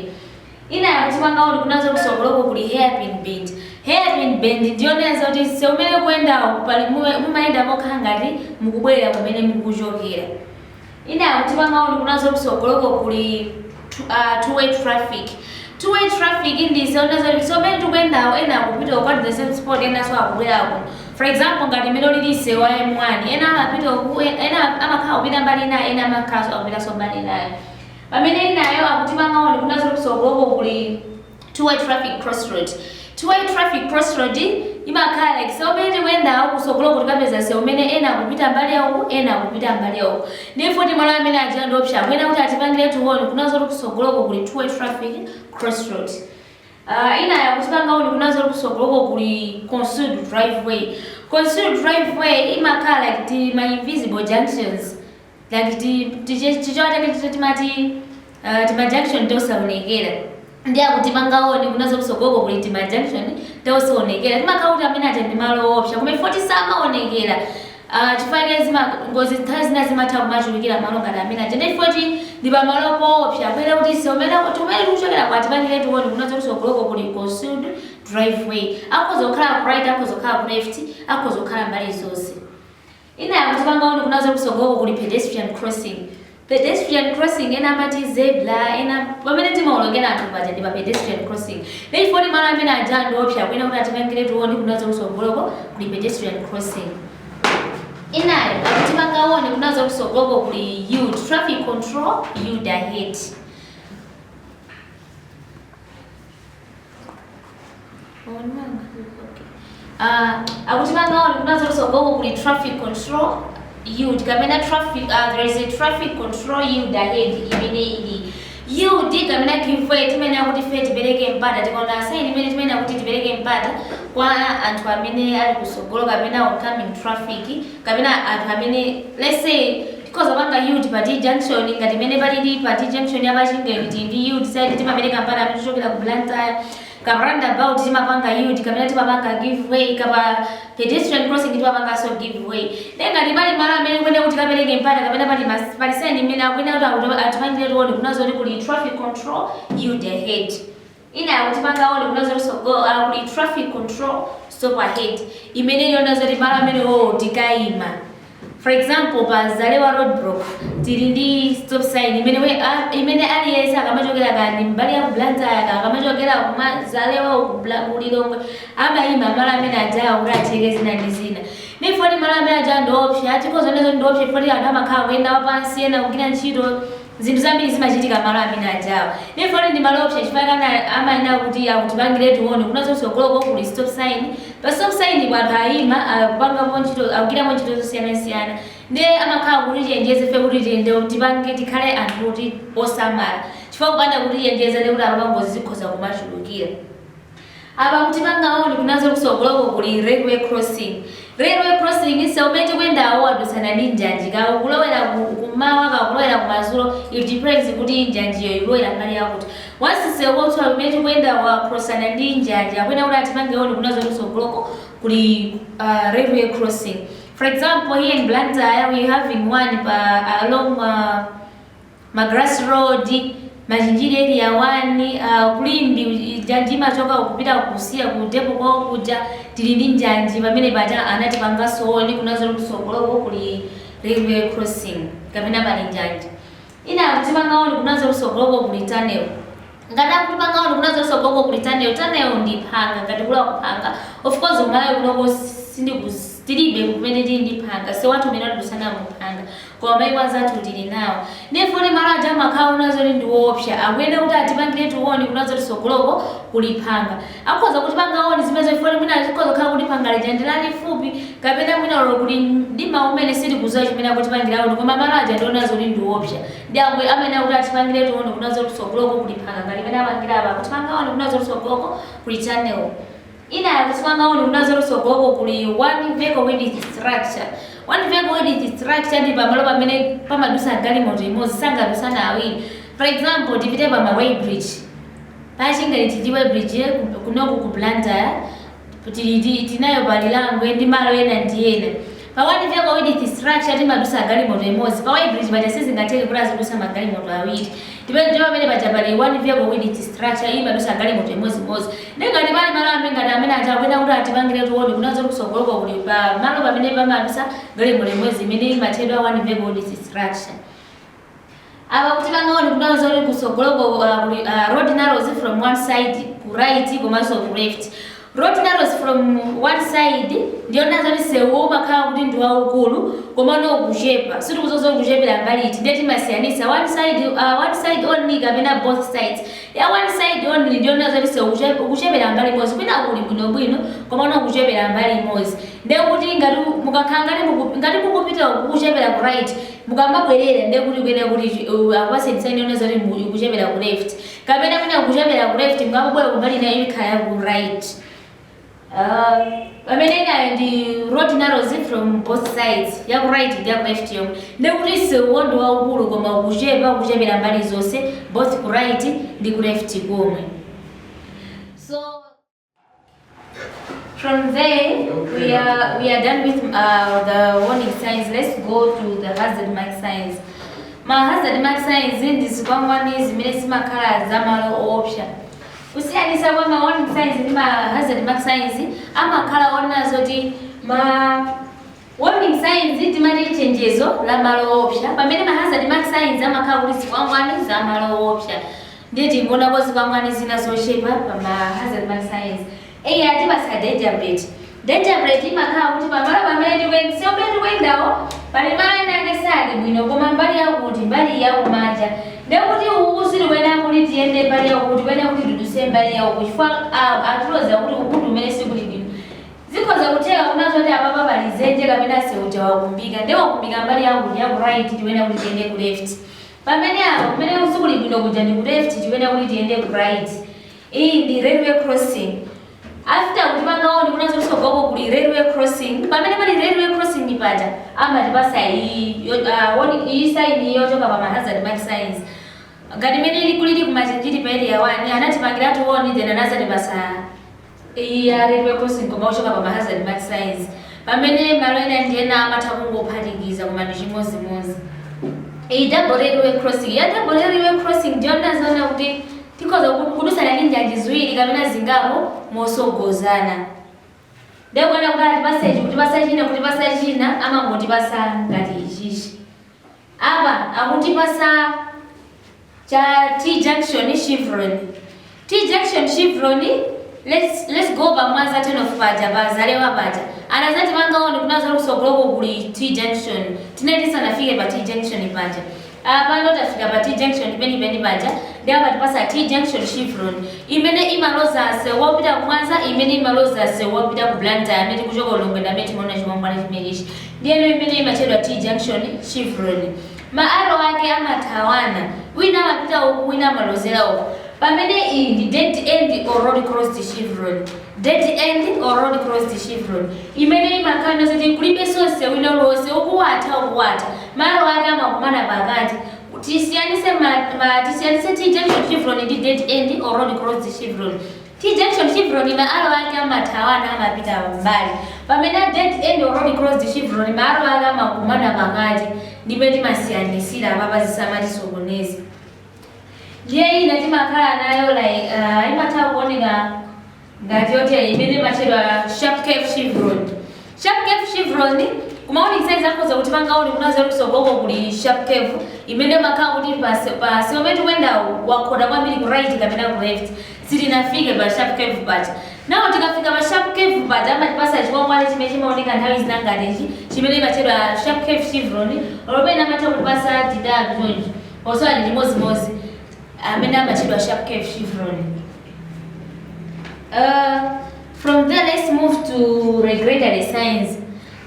inayo akutipanga warn kunena zoti kusogoloko kuli hairpin bend hairpin bend ndi yoonetsa kuti msewu umene mukuyendawo pali mume- mumayenda mokhala ngati mukubwerera kumene mukuchokera Inayo akutipanga warn kunena zoti kusogoloko kuli tu- ah, two way traffic two way traffic ndi yoonetsa zoti msewu umene tikuyendawo ena akupita uku at the same spot enanso akubwerako for example ngati mmene ulili msewu wa M1 ena amapita uku ena amakhala akupita mbali inayo ena amakhalanso akupitanso mbali inayo pamene inayo akutipanga warn kunena zoti kusogoloko kuli two way traffic crossroad two way traffic crossroad imakhala like sewu umene tikuyendawo kusogoloko tikapeza sewu umene ena akupita mbali yawo ena akupita mbali yawo ndiye poti malo amene aja ndi oopsa akuyenera kuti atipangiretu warn kunena zoti kusogoloko kuli two way traffic crossroad Uh, inayo akutipanga warn kunena zoti kusogoloko kuli concealed driveway concealed driveway imakhala like tima invisible junctions like ti- tichi- chichewa chake ticho timati uh, timajunction tosaonekera ndiye akutipanga warn kunena zoti kusogoloko kuli timajunction tosaonekera timakhala kuti amene aja ndi malo oopsa koma poti samaonekera uh, chifukwa zima ngozi nthawi zina zimatha kumachulukira malo ngati amene aja ndiye poti ndi pamalo poopsa akuyenera kuti msewu umene umene tikuchokerako atipangiretu warn kunena zoti kusogoloko kuli concealed driveway akhoza kukhala ku right akhoza kukhala ku left akhoza kukhala mbali zonse Inayo akutipanga warn kunena zoti kusogoloko kuli pedestrian crossing. Pedestrian crossing ena amati zebra ena pamene timaolokera anthu paja ndi pa pedestrian crossing. Ndiye chifukwa kuti malo amene aja ndi oopsa akuyenera kuti atipangiretu warn kunena zoti kusogoloko kuli pedestrian crossing. Inayo akutipanga warn kunena zoti kusogoloko kuli yield traffic control yield ahead. Uh, akutipanga warn kunena zoti kusogoloko kuli traffic control yield kapena traffic uh, there is a traffic control yield ahead imeneyi ndi yield kapena give way timayenera kuti ife tipereke mpata tikaona sign imeneyi timayenera kuti tipereke mpata kwa anthu amene ali kusogolo kapena oncoming traffic kapena anthu amene let's say Tikhoza kupanga yield pa T junction ngati mmene palili pa T junction ya pa Chingeni tili ndi yield sign timapereka mpata amene akuchokera ku Blantyre kaya pa roundabout timapanga yield kapena timapanga give way kaya pa pedestrian crossing timapanganso give way ndiye ngati pali malo amene tikuyenera kuti tikapereke mpata kapena pali mas- pali sign imene akuyenera kuti akuti atipangiretu warn kunena zoti kuli traffic control yield ahead Ina ya kutipanga warn kunena zoti kutsogoloko kuli traffic control, stop ahead, imene ili yonena zoti malo amenewo tikaima. For example, pa Zalewa roadblock tili ndi stop sign imene we, a, imene aliyense akamachokera kaya ndi mbali ya ku Blantyre kaya akamachokera kuma Zalewa uku Bla- ku Lilongwe amaima malo amene ajawa kuti acheke zina ndi zina. Therefore malo amene ajawa ndi oopsa, tikhoza kunena zoti ndi oopsa poti anthu amakhala akuyenda wapansi ena kugwira ntchito Zinthu zambiri zimachitika malo amene ajawa. Therefore ndi malo oopsa chifukwa chake amayenera kuti atipangiretu warn kunena zoti kutsogoloko kuli stop sign. Pa stop signpo anthu ayima akupangapo ntchito akugwirapo ntchito zosiyanasiyana. Nde amakhala akutichenjeza ife kuti tiyende tipange tikhale anthu oti osamala. Chifukwa kupanda kutichenjeza ndekuti apa ngozi zikhoza kumachulukira. Apa akutipanga warn kunena zoti kusogoloko kuli railway crossing. Railway crossing msewu umene tikuyendawo wadutsana ndi njanji kaya ukulowera ku kummawa kaya ukulowera kumadzulo it depends kuti njanjiyo ikulowera mbali yakuti. Once msewu wathu umene tikuyendawo wacrossana ndi njanji akuyenera kuti atipange warn kunena zoti kusogoloko kuli uh, railway crossing. For example, here in Blantyre we having one pa along uh, Magalasi road, Machinjiri area 1, ku Limbe njanji imachoka uku kupita ku CEAR ku depo kwawo kuja tili ndi njanji pamene paja anatipanganso warn kunena zoti kutsogoloko kuli railway crossing kapena pali njanji ina akutipanga warn kunena zoti kutsogoloko kuli tunnel. Ngati akutipanga warn kunena zoti kusogoloko kuli tunnel tunnel ndi phanga ngati kuli akuphanga of course ku Malawi kunoko sindikuz tilibe kumene tili ndi phanga msewu wathu umene wadutsana muphanga koma maiko anzathu tili nawo therefore malo aja amakhala onena zoti ndiwoopsa akuyenera kuti atipangiretu warn kunena zoti kusogoloko kuli phanga akhoza kutipanga warn zimenezo poti mwina zikhoza kukhala kuti phanga lija ndi lalifupi kapena mwina olo kuli mdima umene sitikuziwa chimene akutipangira warn koma malo aja ndi onena zoti ndiwoopsa Nde amayenera kuti atipangiretu warn kunena zoti tsogoloko kuli phanga ngati mene apangira apa akutipanga warn kunena zoti tsogoloko kuli channel inayi akutipanga warn kunena zoti tsogoloko kuli one vehicle width structure one vehicle width structure ndi pamalo pamene pamadusa galimoto imodzi sangadusana awiri for example tipite pa ma weighbridge pa Chingeni tili ndi weighbridge kunoko ku Blantyre Tili ndi tinayo pa Lirangwe ndi malo ena ndi ena. Pa one vehicle width structure timadusa galimoto imodzi, pa Weighbridge paja sizingatheke kuti azidusa magalimoto awiri. Ndipo ndipo pamene paja pali one vehicle width structure imadusa galimoto imodzi modzi. Nde ngati pali malo amene ngati amene aja akuyenera kuti atipangiretu warn kunena zoti kutsogoloko kuli pa malo pamene pamadusa galimoto imodzi imene imatchedwa one vehicle width structure. apa akutipanga warn kunena zoti kutsogoloko uh, kuli uh, road narrows from one side ku right komanso ku left road narrows from one side ndi yonena zoti sewu umakhala kuti ndi waukulu komano ukuchepa sitikuziwa zoti kuchepera mbali iti ndiye timasiyanisa one side uh, one side only kapena both sides ya one side only ndi yonena zoti sewu ukuche- ukuchepera mbali imodzi kwina kuli bwinobwino komano ukuchepera mbali imodzi ndekuti ngati mukakhala ngati muku ngati mukupita kukuchepera ku right mukamabwerera ndekuti kuyenera kuti chi- uh, akupaseni saini yonena zoti mu- ikuchepera ku left kapena mwina kuchepera ku left mukabwera kumbali inayo ikhala ya ku right Uh, pamene inayo ndi road narrows from both sides ya ku right ndi ya ku left yomwe ndekuti seuwo ndi waukulu koma ukuchepa ukuchepera mbali zonse both ku right ndi ku left komwe From there, we are we are done with uh, the warning signs. Let's go to the hazard mark signs. Ma hazard mark signs ndi zikwangwani zimene zimakhala za malo oopsa. Kusiyanisa kwa ma warning signs ndi ma hazard mark signs amakhala onena zoti ma Warning signs timati chenjezo la malo oopsa pamene ma hazard mark signs amakhala kuti zikwangwani za malo oopsa ndiye tingoonako zikwangwani zina zochepa pa ma hazard mark signs eya atipatsa danger plate danger plate imakhala kuti pamalo pamene tikuyenda sewu umene tikuyendawo pali malo ena ake sali bwino koma mbali yakuti mbali ya kumanja ndiye kuti uku sitikuyenera kuti tiyende mbali yakuti tikuyenera kuti tiduse mbali yauku chifukwa ah, atiloza kuti uku ndi kumene sikuli bwino Zikhoza kutheka kunena zoti apapa pali zenje kapena nsewu uja wakumbika nde wakumbika mbali yakuti yaku right tikuyenera kuti tiyende ku left pamene apa kumene sikuli bwino kuja ndi ku left tikuyenera kuti tiyende ku right iyi ndi railway crossing after kutipanga warn kunena zoti kusogoloko kuli railway crossing pamene pali railway crossing paja amatipasa iyi yo- ah, oni- iyi sign iyi yochoka pa ma hazard mark signs ngati imene ili kulili kumachinjiri pa area 1 anatipangiratu warn then anazatipasa Iyi ya railway crossing koma yochoka pa ma hazard mark signs pamene malo ena ndi ena amatha kungophatikiza koma ndi chimodzimodzi. Iyi double railway crossing. Iyi ya double railway crossing ndi yonena zonena kuti tikhoza ku- kudusana ndi njanji ziwiri kapena zingapo mosogozana. Ndiye kuona kuti atipase ichi kutipasa china kutipasa china amangotipasa ngati ichichi. Apa akutipasa cha T junction chevron T junction chevron let's let's go pa mwanza turn off paja pa zalewa paja anazatipanga warn kunena zoti kusogoloko kuli T junction tinali tisanafike pa T junction paja apa ndo tafika pa T junction peni peni paja ndi apa atipasa T junction chevron imene imaloza sewu wopita ku mwanza imene imaloza sewu wopita ku blantyre amene tikuchoka ku lilongwe ndi amene timaona chikwangwani chimenechi Ndiye imene imatchedwa T junction, chevron, ma arrow ake amathawana, ina imapita uku ina imalozera uku, pamene iyi ndi dead end or road closed chevron. Dead end or road closed chevron imene imakhala ndiye zoti kulibenso msewu wina uliwonse, uku watha uku watha, ma arrow ake amakumana pakati. Tisiyanitse ma, ma, tisiyanitse T junction chevron ndi dead end or road closed chevron. T junction chevron ma arrow ake amathawana amapita m'mbali pamene a dead end or road closed chevron ma arrow ake amakumana pakati ndi pamene timasiyanisira apapa zisamatisokoneze. Ndiye ina timakhala nayo like uh, imatha kuoneka ngati iyo imene imatchedwa sharp curve chevron Sharp curve chevron kumawonetsa izi akhoza kutipanga warn kunena zoti kutsogoloko kuli sharp curve imene imakhala kuti pa pa msewu omwe tikuyendawo wakhota kwambiri ku right kapena ku left tisanafike pa sharp curve paja now tikafika pa sharp curve paja amatipasa chikwangwani chimene chimaoneka nthawi zina ngati ichi chimene imatchedwa sharp curve chevron olo pena amatha kutipasa titatu chonchi onsewa ndi chimodzimodzi amene amatchedwa sharp curve chevron uh, From there let's move to regulatory signs.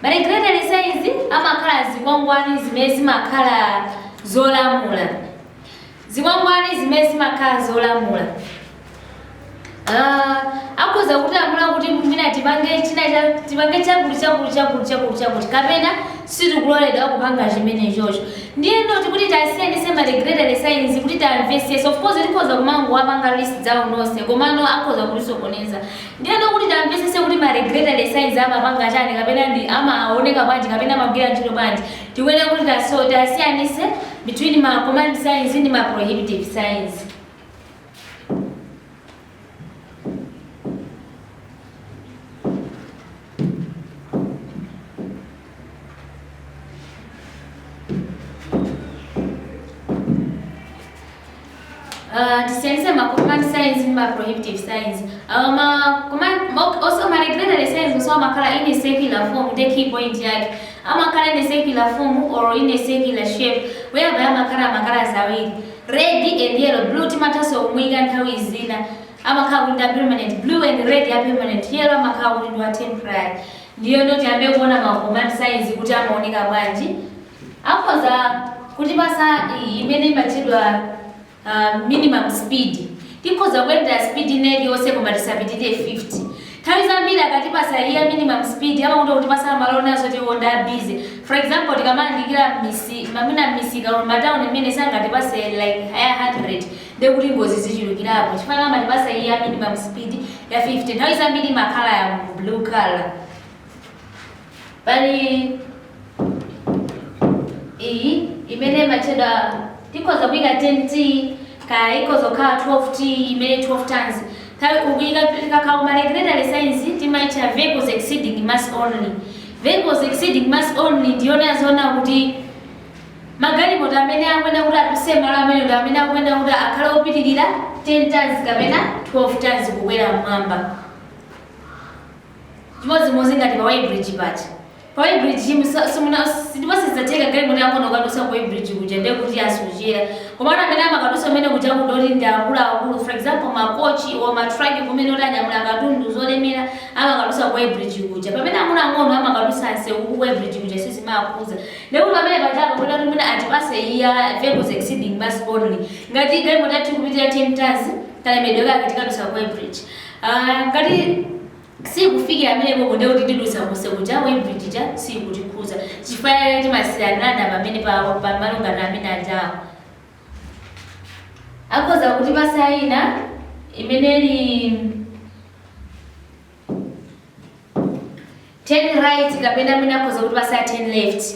Ma regulatory signs amakhala zikwangwani zimene zimakhala zolamula. Zikwangwani zimene zimakhala zolamula. Ah, akhoza kutilamula kuti mwina tipange china cha- tipange chakuti chakuti chakuti chakuti chakuti kapena sitikuloledwa kupanga chimenechocho ndiyeno tikuti tasiyanise ma regulatory signs kuti tamvesese of course tikhoza kumangowapanga list down onse komano akhoza kutisokoneza ndiyeno kuti tamvesese kuti ma regulatory signs amapanga chani kapena ndi amaoneka bwanji kapena amagwira ntchito bwanji tikuyenera kuti taso- tasiyanise between ma command signs ndi ma prohibitive signs Uh, tisiyanise ma command signs ndi ma prohibitive signs uh, ma command ma- also ma regulatory signs also amakhala in a circular form ndiye key point yake amakhala in a circular form or in a circular shape whereby amakhala amakhala zawiri Red and yellow, Blue timathanso kumuika nthawi zina amakhala kuti ndi wa permanent blue and red wa permanent yellow amakhala kuti ndi wa temporary ndiyeno tiyambe kuona ma command signs kuti amaoneka bwanji akhoza kutipasa iyi imene imatchedwa uh, minimum speed tikhoza kuyendera speed ina iliyonse koma tisapitirire 50 Nthawi zambiri akatipasa iya minimum speed amakonda kutipasa malo onena zoti iwo ndi a busy. For example tikamayandikira mmisi mwina mmisika or mma town mmene sangatipase like higher 100 ndiye kuti ngozi zichulukirapo chifukwa chake amatipasa iya minimum speed ya 50 nthawi zambiri imakhala ya blue colour. Pali. iyi imene imatchedwa ikhoza kuyika 10 t kaya ikhoza kukhala 12 t imene 12 tons nthawi ukuyika tikakhala ma regulatory signs timaitcha vehicles exceeding mass only vehicles exceeding mass only ndiyonena zoti kuti magalimoto amene akuyenera kuti aduse malo amenewo ndi amene akuyenera kuti akhale opitirira 10 tons kapena 12 tons kukwera mmwamba chimodzimodzi ngati pa weighbridge paja Pa weighbridge simu simuna ndipo sizatheka galimoto yaing'ono kukadusa ku weighbridge kuja ndiye kuti asochera. Komano amene amakadusa kumene kuja magalimoto ndi akulu akulu for example ma coach or ma truck kumene oti anyamula katundu zolemera amakadusa ku weighbridge kuja. Pamene ang'ono ang'ono amakadusa nsewu ku weighbridge kuja sizimaakhuza. Ndiye kuti pamene pajapa akuyenera kuti mwina atipase iya vehicles exceeding mass only. Ngati galimoto yathu ikupitirira 10 tons kalemedwe kake tikadusa ku weighbridge. Uh, ngati sikufikira pamenepopo ndiye kuti tidutsa kunja kuja weighbridge ija siikutikhuza chifukwa chake timasiyanirana pamene pa pa malingana ndi amene ajawa akhoza kutipasa ina imene ili turn right kapena imene akhoza kutipasa turn left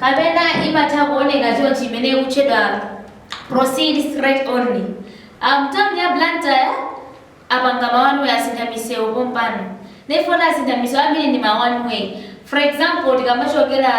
kapena imatha kuoneka chonchi imene ikutchedwa proceed straight only m'town ya Blantyre apanga ma one way asintha misewu pompano nefona asintha misewu ambiri ndi ma one way for example tikamachokera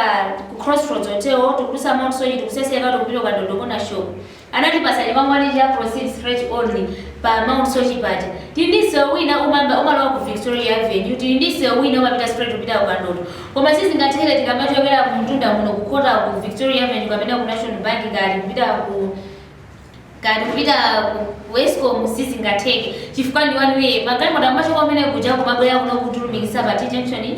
ku crossroads hotel tikudusa Mount Soche tikuseseka tikupita kwa Kandodo Corner Shop Anatipasa chikwangwani cha Proceed Straight Only pa Mount Soche paja. Tili ndi msewu wina umamba umalowa ku Victoria Avenue, tili ndi msewu wina umapita straight kupita ku Kandodo. Koma sizingatheke tikamachokera kumtunda kuno kukhota ku Victoria Avenue kapena ku National Bank kaya tikupita ku kaya tikupita ku ku Escom sizingatheke chifukwa ndi one way. Magalimoto amachoka kumene kuja kumabwera kuno kudzalumikiza pa T junction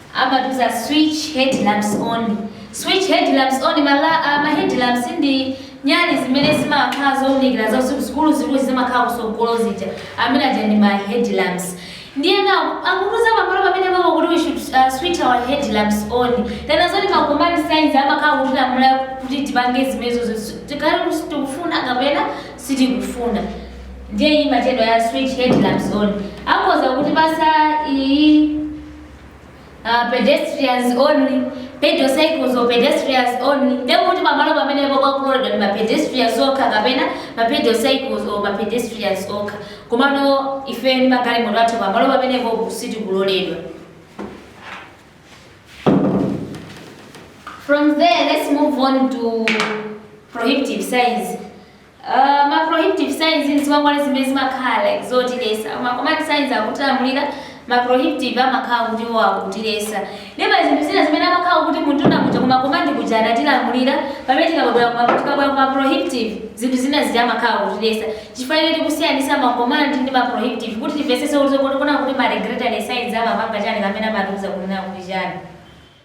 Amatiuza switch head lamps on. Switch head lamps on ma la ma head lamps ndi nyali zimene zimakhala zounikira za usiku zikuluzikulu zimakhala kusogolo zija amene aja ndi ma head lamps ndiye nawo akutiuza pamalo pamenepapo kuti we should uh, switch our head lamps on tena zoti ma command signs amakhala kutilamula kuti tipange zimenezo zi- tikhale kuti tikufuna kapena sitikufuna ndiye iyi imatchedwa ya switch head lamps on akhoza kutipasa iyi Uh, pedestrians only pedal cycles or pedestrians only ndekuti pamalo pamenepo pakuloledwa ndi mapedestrians okha kapena mapedal cycles or mapedestrians okha komano ife ndi magalimoto athu pamalo pamenepo sitikuloledwa from there let's move on to prohibitive signs Aaa ma prohibitive signs ndi zikwangwani zimene zimakhala like zotilesa ma command signs akutilamulira ma prohibitive amakhala kuti iwo akutilesa ndiye pali zinthu zina zimene amakhala kuti mwina muja kuma command kuja anatilamulira pamene tikabwera kuma tikabwera kuma prohibitive zinthu zina zija amakhala akutilesa chifukwa choti tikusiyanisa ma command ndi ma prohibitive kuti timvesese kuti kuti kuti ma regulatory signs amapanga chani kapena amatiuza kunena kuti chani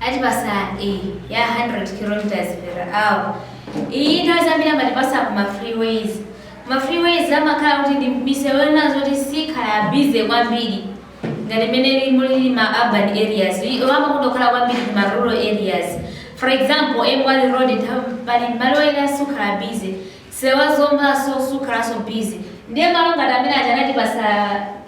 atipasa e ya 100 kilometers per hour iyi nthawi zambiri amatipasa ku ma freeways ma freeways amakhala kuti ndi misewu yonena zoti sikhala bize kwambiri ngati imene muli ma urban areas amakonda kukhala kwambiri ku ma rural areas for example m1 road pali malo ena sikhala bize Sewu wa Zombaso sukhalaso busy ndiye malo ngati amene aja anatipasa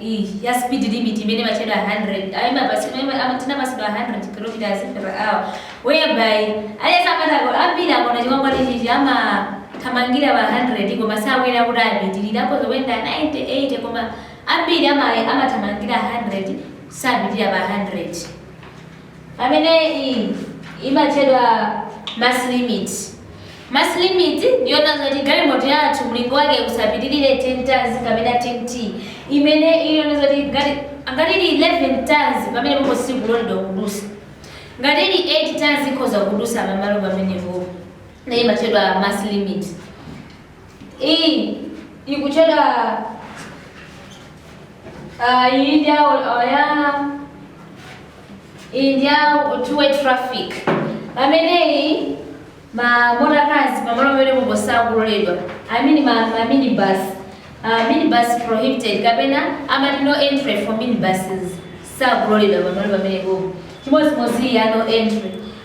iyi ya speed limit imene imatchedwa 100 ayi imapatsidwa ima ama tinapatsidwa 100 kilometers per hour whereby aliyense amatha ku ambiri akaona chikwangwani chichi amathamangira pa 100 koma sakuyenera kuti apitirire akhoza kuyenda 90 80 koma ambiri ama amathamangira 100 sapitirira pa 100. pamene iyi imatchedwa mass limit. Mass limit ndiyonena zoti galimoto yathu mlingo wake usapitirire 10 tons kapena 10 t imene iliyonena zoti ngati ngati ili 11 tons pamenepopo sikuloledwa kudusa ngati ili 8 tons ikhoza kudusa pamalo pamenepo na imatchedwa mass limit iyi ikutchedwa uh, iyi ndi awo- awo ya iyi ndi ya two-way traffic pameneyi ma motor cars pamalo pamenepopo sakuloledwa i mean ma, ma minibus uh, minibus prohibited kapena amati no entry for minibuses sakuloledwa pamalo pamenepopo chimodzimodzi iyi ya no entry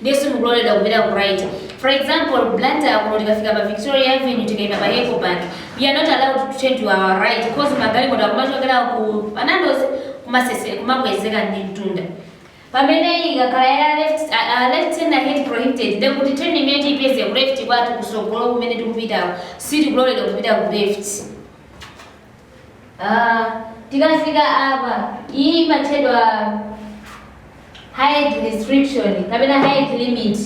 ndiye sitikuloledwa kupita ku right. For example, Blantyre kuno tikafika pa Victoria Avenue tikaima pa Ecobank, we are not allowed to turn to our right coz magalimoto akumachokera ku Panandozi kumasese kumakwezeka ndi mtunda. Pamene ikakhala ya left, uh, uh, left turn ahead prohibited ndiye kuti turn imene tipeze ku left kwathu kusogolo kumene tikupitako sitikuloledwa kupita ku left. Ah, tikafika apa iyi imatchedwa height restriction kapena height limit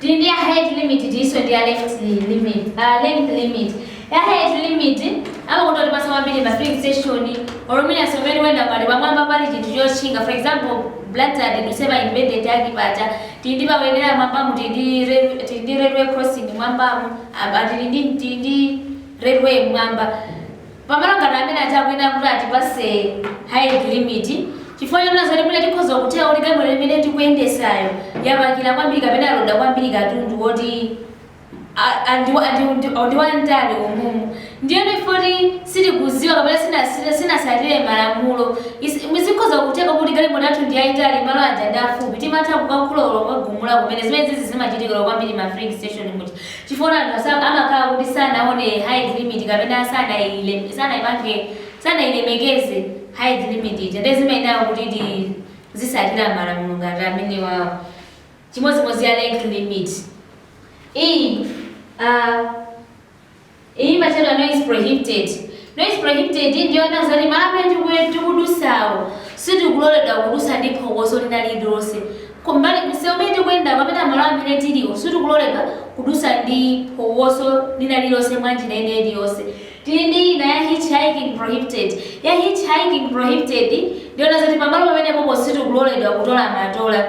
tili ndi ya height limit tilinso ndi ya length limit uh, length limit ya height limit amakonda kutipatsa kwambiri ma filling station or mwina msewu umene ukuyenda pali pamwamba pali chinthu chotchinga for example blantyre ndinena Independence Arch paja tili ndi powonekera mwambamu tili ndi rail- tili ndi railway crossing mwambamu apa tili ndi tili ndi railway mmwamba pamalo ngati amene aja akuyenera kuti atipatse height limit chifukwa chonena zoti mwina tikhoza kutheka kuti galimoto limene tikuyendetsayo yapakira kwambiri kapena yaloda kwambiri katundu woti a- andi- andi- ndi- ndi wamtali umumu ndiyeno ifoti sitikudziwa kapena sitinatsire- sitinatsatire malamulo zimene zikhoza kutheka kuti galimoto yathu ndi yayitali malo aja ndi afupi timatha kukakhulula kuwagumula kumene zimene zizi zimachitikira kwambiri ma filling station muja Chifukwa choti anthu ama- amakhala kuti sanaone height limit kapena sanaile sanaipange sanailemekeze height limit ija ndiye zimayenera kuti tizitsatira malamulo ngati amenewawo chimodzimodzi ya length limit iyi uh, Iyi imatchedwa noise prohibited. Noise prohibited iyi ndiyonena zoti malo amene tikuye tikudutsawo sitikuloledwa kudutsa ndi phokoso lina lililonse. Kumbali, msewu umene tikuyendawo kapena malo amene tiliwo sitikuloledwa kudutsa ndi phokoso lina lililonse mwa njira ina iliyonse. Tili ndi ina ya hitchhiking prohibited. Ya hitchhiking prohibited iyi ndiyonena zoti pamalo pamenepopo sitikuloledwa kutola matola.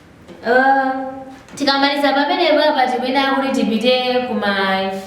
Uh, tikamaliza pamenepapa tiyenera kuti tipite kuma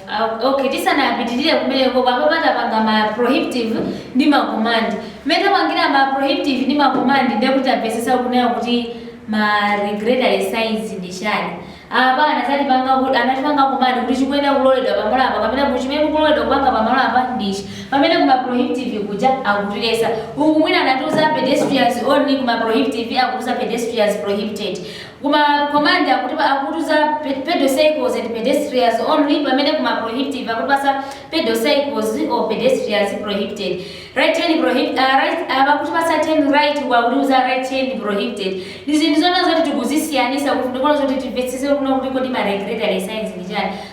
uh, okay tisanapitirire kumeneko popo titapanga ma prohibitive ndi ma command mmene tapangira ma prohibitive ndi ma command ndiye kuti tamvetsetsa kunena kuti ma regulatory signs ndi chani apa anatipanga kuti anatipanga command kuti chikuyenera kuloledwa pamalo apa kapena chimene tikuloledwa kupanga pamalo apa ndichi Pamene kuma prohibitive kuja akutiletsa uku mwina anatiuza pedestrians only kuma prohibitive akutiuza pedestrians prohibited. Kuma command akutipa akutiuza pedal cycles and pedestrians only pamene kuma prohibitive akutipatsa pedal cycles or pedestrians prohibited. Right turn prohibited uh, right uh, akutipatsa turn right akutiuza right turn prohibited. Ndizi ndizonena zoti tikuzisiyanitsa kuti ndicholinga zoti timvetsetse kunena kuti kodi ma regulatory signs ndi chani.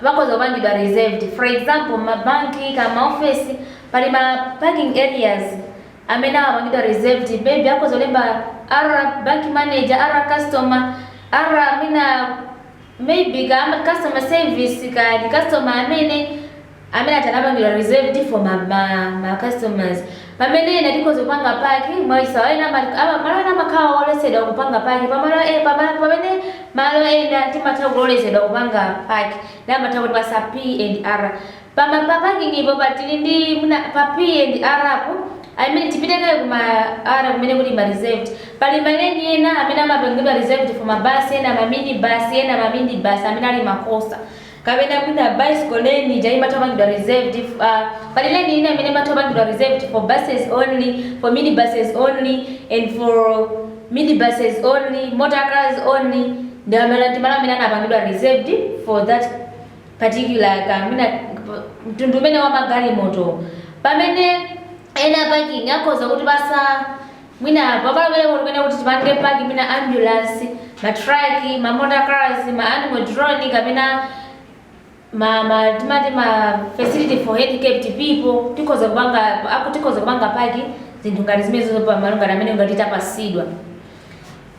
amakhoza kupangidwa reserved. For example, mma banki, kaya mma ofesi, pali ma parking areas amene amapangidwa reserved. Maybe akhoza kulemba R, bank manager, R, customer, R, mwina, maybe, kaya amati customer service, kaya ndi customer amene, amene aja anapangidwa reserved for ma, ma, ma customers. Pamene ena tikhoza kupanga park, mwachisawawa ena ama, ama, malo ena amakhala oletsedwa kupanga park, pamalo e, pamalo, pamene malo ena timatha kulolezedwa kupanga park, ndiye amatha kutipatsa P and R. Pa ma, pa parking po pa tili ndi mwina pa P and R po, I mean tipite kaye ku ma R kumene kuli ma reserved, pali ma lane ena amene amapangidwa reserved for ma bus ena ma mini bus, ena ma midi bus amene ali ma coaster. kapena mwina bicycle lane ija imatha kupangidwa reserved f- ah, pali lane ina imene imatha kupangidwa reserved for buses only for minibuses only and for minibuses only motor cars only ndi amene ndi malo amene anapangidwa reserved for that particular ka mwina mtundu umene wa magalimoto pamene ena parking ikhoza kutipatsa Mwina pamalo ponena kuti tipange paki mwina ambulance, ma truck, ma motor cars, ma animal drawn kapena ma ma timati ma facility for handicapped people tikhoza kupanga aku tikhoza kupanga paki zinthu ngati zimenezo pa malo ngati amene ngati tapatsidwa.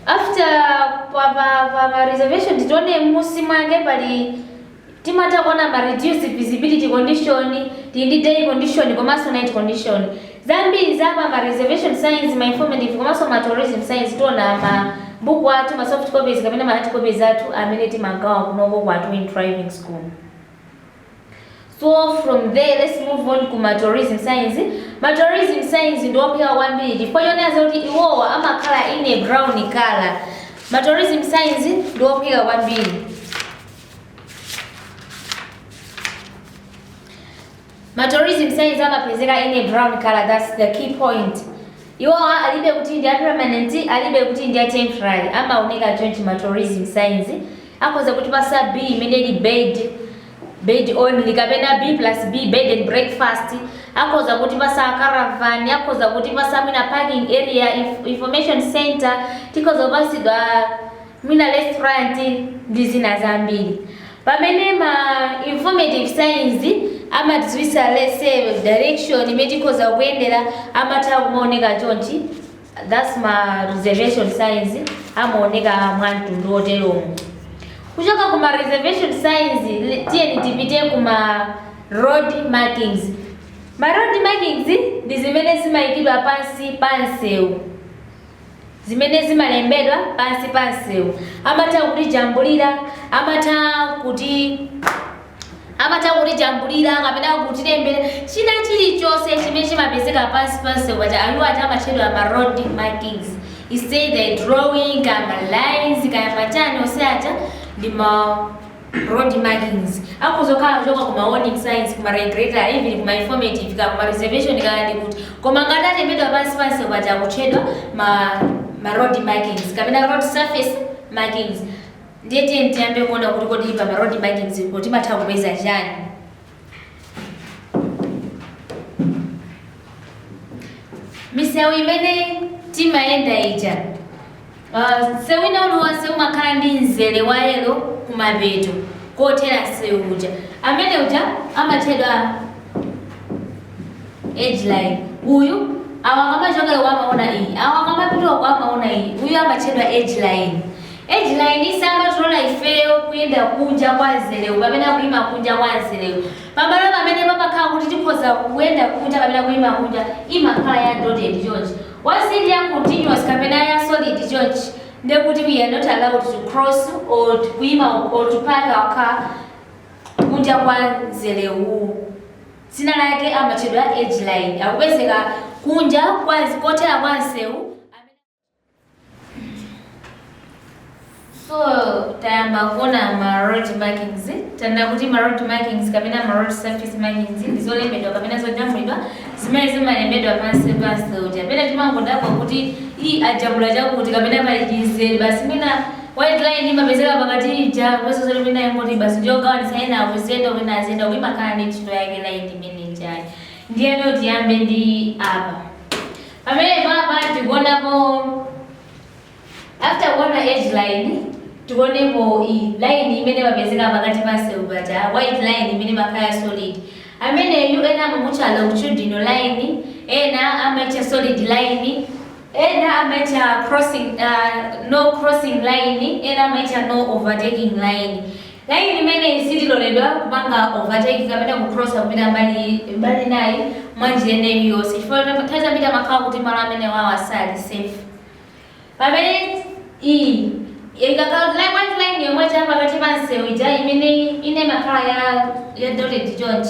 After pa pa pa, pa reservation titaona munsi mwake pali Timatha kuona ma reduced visibility condition, tili ndi day condition komanso night condition. Zambiri za pa ma reservation signs, ma informative komanso ma tourism signs tiona m'mabuku athu, ma soft copies kapena ma hard copies athu amene timagawa kunoko ku Atuweni Driving School. So from there let's move on ku ma tourism signs. Ma tourism signs ndi ophweka kwambiri chifukwa chonena zoti iwowa amakhala in a brown colour. Ma tourism signs ndi ophweka kwambiri. ma tourism signs amapezeka in a brown color that's the key point iwo alibe kuti ndi a permanent alibe kuti ndi a temporary amaoneka chonchi ma tourism signs akhoza kutipatsa b imene ili bed bed only kapena b plus b bed and breakfast akhoza kutipatsa caravan akhoza kutipatsa mwina parking area inf information center tikhoza kupatsidwa mwina restaurant ndi zina zambiri pamene ma informative signs amatidziwitsa let's say direction imene tikhoza kuyendera amatha kumaoneka chonchi that's ma reservation signs amaoneka mwa mtundu woteromo kuchoka kuma reservation signs li- tiyeni tipite kuma road markings ma road markings ndi zimene zimayikidwa pansi pa msewu zimene zimalembedwa pansi pa msewu, amatha kutijambulira, amatha kuti amatha kutijambulira kapena kutilembera china chilichonse chimene chimapezeka pansi pa msewu paja iwo aja amatchedwa ma road markings it's either drawing kaya ma lines kaya machani onse aja ndi ma road markings akhoza kukhala kuchoka ku ma warning signs ku ma regulatory even ku ma informative ka ku ma reservation kaya ndi kuti koma ngati alembedwa pansi pamsewu paja akutchedwa ma ma road markings kapena road surface markings ndiye tiyeni tiyambe kuona kuti kodi pa ma road markings poti timatha kupeza chani misewu imene timayenda ija uh, msewu wina uliwonse umakhala ndi mzere wa yelo kumapeto kothera msewu uja amene uja amatchedwa edge line uyu awa akamachokera uko amaona iyi awa akamapita uko amaona iyi uyu amatchedwa edge line edge line simatilola ifeyo kuyenda kunja kwa mzerewu kapena kuyima kunja kwa mzerewu Pamalo pamene pamakhala kuti tikhoza kuyenda kunja kapena kuima kunja imakhala ya dotted chonchi. Once ili ya continuous kapena ya solid chonchi nde kuti we are not allowed to cross or kuima or to park our car kunja kwa mzere uwu. Dzina lake amatchedwa edge line. Akupezeka kunja kothera kwa msewu. so tayamba kuona ma road markings tanena kuti ma road markings kapena ma road surface markings ndi zolembedwa kapena zojambulidwa zimene zimalembedwa pansi pamsewu paja pena timangodabwa kuti iyi ajambula chakuti kapena pali chimzere basi mwina white line imapezeka pakati ija komanso zoti mwina yangoti basi ndiyogawanitsa ena aziyenda wina aziyenda uku imakhala ndi ntchito yake line imene ijayi ndiyeno tiyambe ndi apa Pamenepapa tikuonapo after kuona edge line tikuonapo line imene imapezeka pakati pa msewu paja white line imene imakhala solid ameneyu ena amamutcha longitudinal line ena amaitcha solid line ena amaitcha crossing uh, no crossing line ena amaitcha no overtaking line Laini imeneyi sitiloledwa kupanga overtake kapena kucrossa kupita mbali mbali inayi mwa njira ina iliyonse chifukwa nthawi zambiri amakhala kuti malo amenewawa sali safe. Pamene iyi ikakhala kuti line white line yomwe ija ya pakati pa msewu ija imene ina imakhala ya ya dotted chonchi.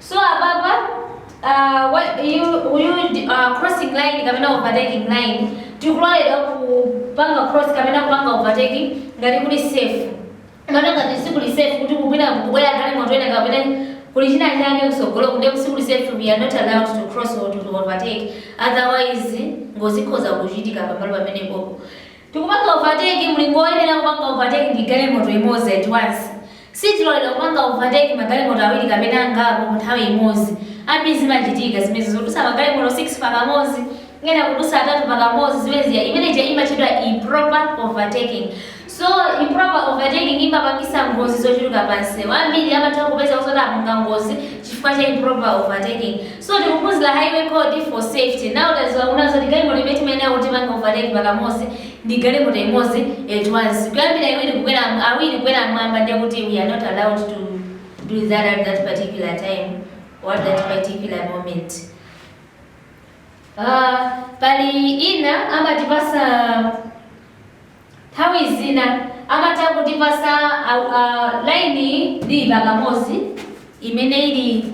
So apapa uh, what, you, you, uh, crossing line kapena overtaking line tikuloledwa kupanga cross kapena kupanga overtake ngati kuli safe kapena ngati sikuli safe kuti kukubwera galimoto ina kapena kuli china chake kutsogoloko nde sikuli safe we are not allowed to cross or to overtake otherwise ngozi ikhoza kuchitika pamalo pamenepopo Tikupanga overtake mlingo woyenera kupanga overtake ndi galimoto imodzi at once. Sitiloledwa kupanga overtake magalimoto awiri kapena angapo mu nthawi imodzi. Ambiri zimachitika zimenezi zodutsa magalimoto 6 pa kamodzi, ena kudutsa atatu pa kamodzi zimene zija imeneija imatchedwa improper overtaking. So improper overtaking imapangitsa ngozi zochuluka pa msewu. Ambiri amatha kupeza zoti apanga ngozi chifukwa cha improper overtaking. So tikuphunzira highway code for safety. Now tadziwa kunena zoti galimoto imene timayenera kutipanga overtake pakamodzi ndi galimoto imodzi at once. Kuyambira iwiri kukwera awiri kukwera mwamba ndiye kuti we are not allowed to do that at that particular time or at that particular moment. Uh, pali ina amatipasa nthawi zina amatha kutipasa uh, uh, laini ndi pakamodzi imene ili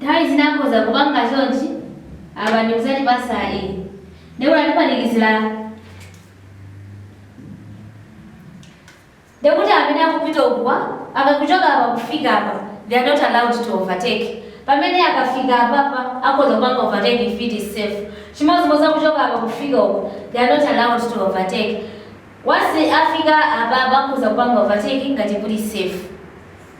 Nthawi zina akhoza kupanga chonchi apa ndi kudzatipasa iyi. Ndiye kuti atipanikizira ndiye kuti amene akupita ukuwa akuchoka apa kufika apa they are not allowed to overtake. Pamene akafika apapa akhoza kupanga overtake if it is safe. Chimodzimodzi akuchoka apa kufika uko they are not allowed to overtake. Once afika apapa akhoza kupanga overtake ngati kuli safe.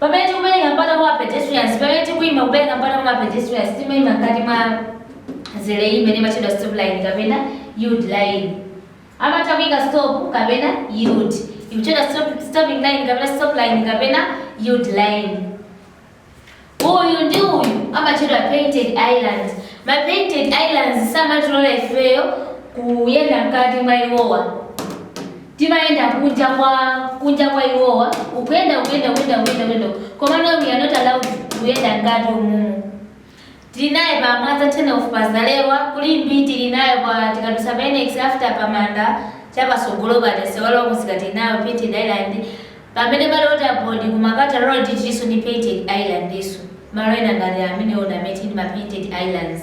Pamene tikupereka mpata kwa pedestrians, pamene tikuima kupereka mpata kwa mapedestrians, timaima mkati mwa mzere uyu imene imatchedwa stop line kapena yield line. Amatha kuika stop kapena yield. Ikutchedwa stop, stopping line kapena stop line kapena yield line. Uyu ndi uyu amatchedwa painted islands. Ma painted islands samatilola ifeyo kuyenda mkati mwa iwowa. Timayenda kunja kwa, kunja kwa iwowa, uku, uku, uku, uku, uku, komano we are not allowed kuyenda mkati umumu. Tili naye pa Mwanza Turn Off pa Zalewa, ku Limbe tili nayo pa tikadusa pa Annex after pa manda cha pasogolo paja msewu wa kumsika tili nayo Painted Island, pamene pali water board ku Makata road tilinso ndi painted islandnso, malo ena ngati amenewo ndi amene tili ndi ma painted islands.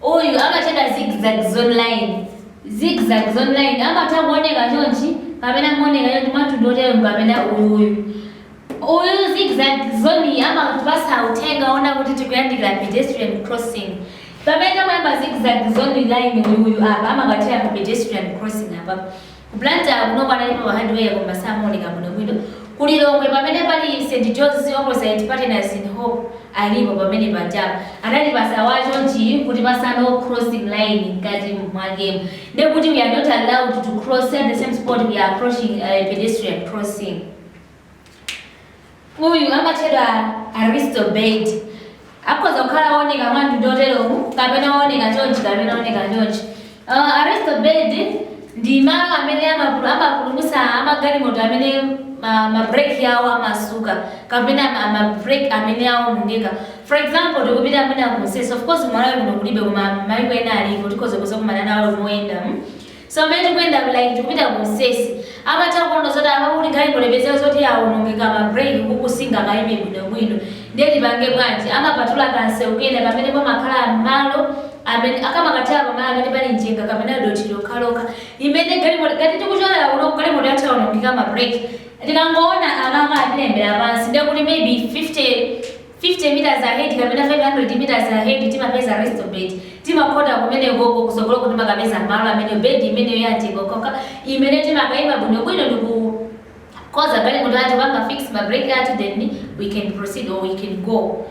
Uyu amatchedwa zigzag zone line. Zigzag zone line amatha kuoneka chonchi kapena mooneka chonchi mwamtundu woteromu kapena uyuyu. Uyu zigzag zone uyu amatipatsa uthenga wonena kuti tikuyandikira pedestrian crossing. Pamene wayamba zigzag zone line uyuyu apa amakathera pa pedestrian crossing apapa. Ku Blantyre kunoko analipo pa highway koma samaoneka bwinobwino, ku Lilongwe pamene pali St John's opposite ndi Partners in Hope alipo pamene pajapa, anatipasa awaa chonchi nkutipasa no crossing line mkati mwakemu nde kuti we are not allowed to cross at the same spot we are approaching a pedestrian crossing. Uyu amatchedwa arrestor bed. Akhoza kukhala wooneka mwa mtundu woterowu kapena wooneka chonchi kapena wooneka chonchi. Uh, arrestor bed ndi malo amene amapulu- amapulumutsa amagalimoto amene ma- mabreki awo amasuka kapena ma- mabreki amene aonongeka. For example, tikupita mwina ku mtsetse, of course Malawi kuno kulibe koma maiko ena alipo, tikhoza kuzakumana nawo moyenda. mm. So pamene tikuyenda like tikupita ku mtsetse amatha kuona zoti apa kuli galimoto ipezeka zoti yaonongeka ma brake ukuku singakaime bwinobwino ndiye tipange bwanji amapatula kansewu kena kamene pamakhala malo amene akamakathira pamalo amene pali mchenga kapena dothi lokhalokha limene galimoto ngati tikuchokera kuno galimoto yathu yaonongeka ma brake tikangoona akanga atilembera pansi ndiye kuti maybe 50 50 meters ahead kapena 500 meters ahead timapeza arrestor bed timakhota kumenekoko kusogoloko timakapeza malo ameneo bed imeneyo ya mchenga okhaokha imene timakaima bwinobwino ndikukonza galimoto yathu kupanga fix ma brake athu then we can proceed or we can go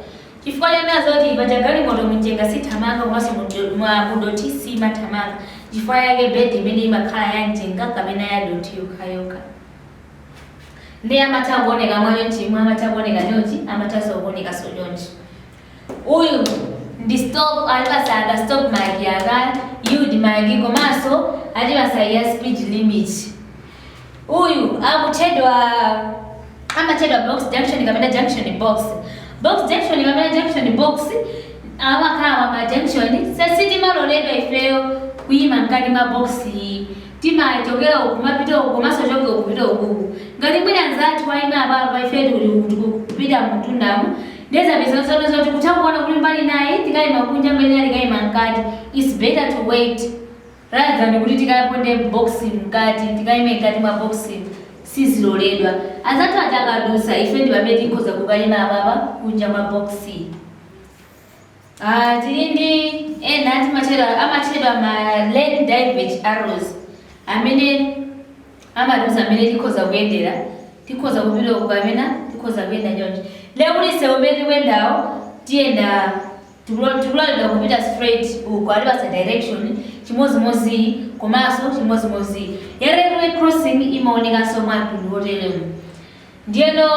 chifukwa chonena zoti paja galimoto mumchenga sithamanga komanso mudo- mwa- mudothi simathamanga chifukwa yake bed imene imakhala ya mchenga kapena ya dothi yokhayokha ndiye amatha kuoneka mwachonchi imwe amatha kuoneka chonchi amathanso kuonekanso chonchi uyu ndi stop atipasa ka stop mark yake yield mark komanso atipasa ya speed limit uyu akutchedwa amatchedwa box junction kapena junction box box junction kapena junction box amakhala m'ma junction so sitimaloledwa ifeyo kuyima mkati mwa box timachokera uku kumapita uku komanso kuchoka uku kupita ukuku ngati mwina anzathu waima apapa ife tili uku tikupita mtundamu ndiye zapeza zono zoti kutha kuona kuti mbali nayi tikaima kunja mbali nayi tikaima mkati its better to wait rather than kuti tikaponde box mkati tikaime mkati mwa box siziloledwa anzathu aja akadusa ife ndi pamene tikhoza kukaima apapa kunja mwa box Ah, tili ndi ena timatchedwa amatchedwa ma lane divert arrows amene amatiuza amene tikhoza kuyendera tikhoza kupita uku kapena tikhoza kuyenda choncho ndiye kuti msewu umene tikuyendawo tiyenda tikula- tikuloledwa kupita straight uku atipasa direction chimodzimodzi komanso chimodzimodzi ya railway crossing imaonekanso mwa mtundu woteremu Ndiyeno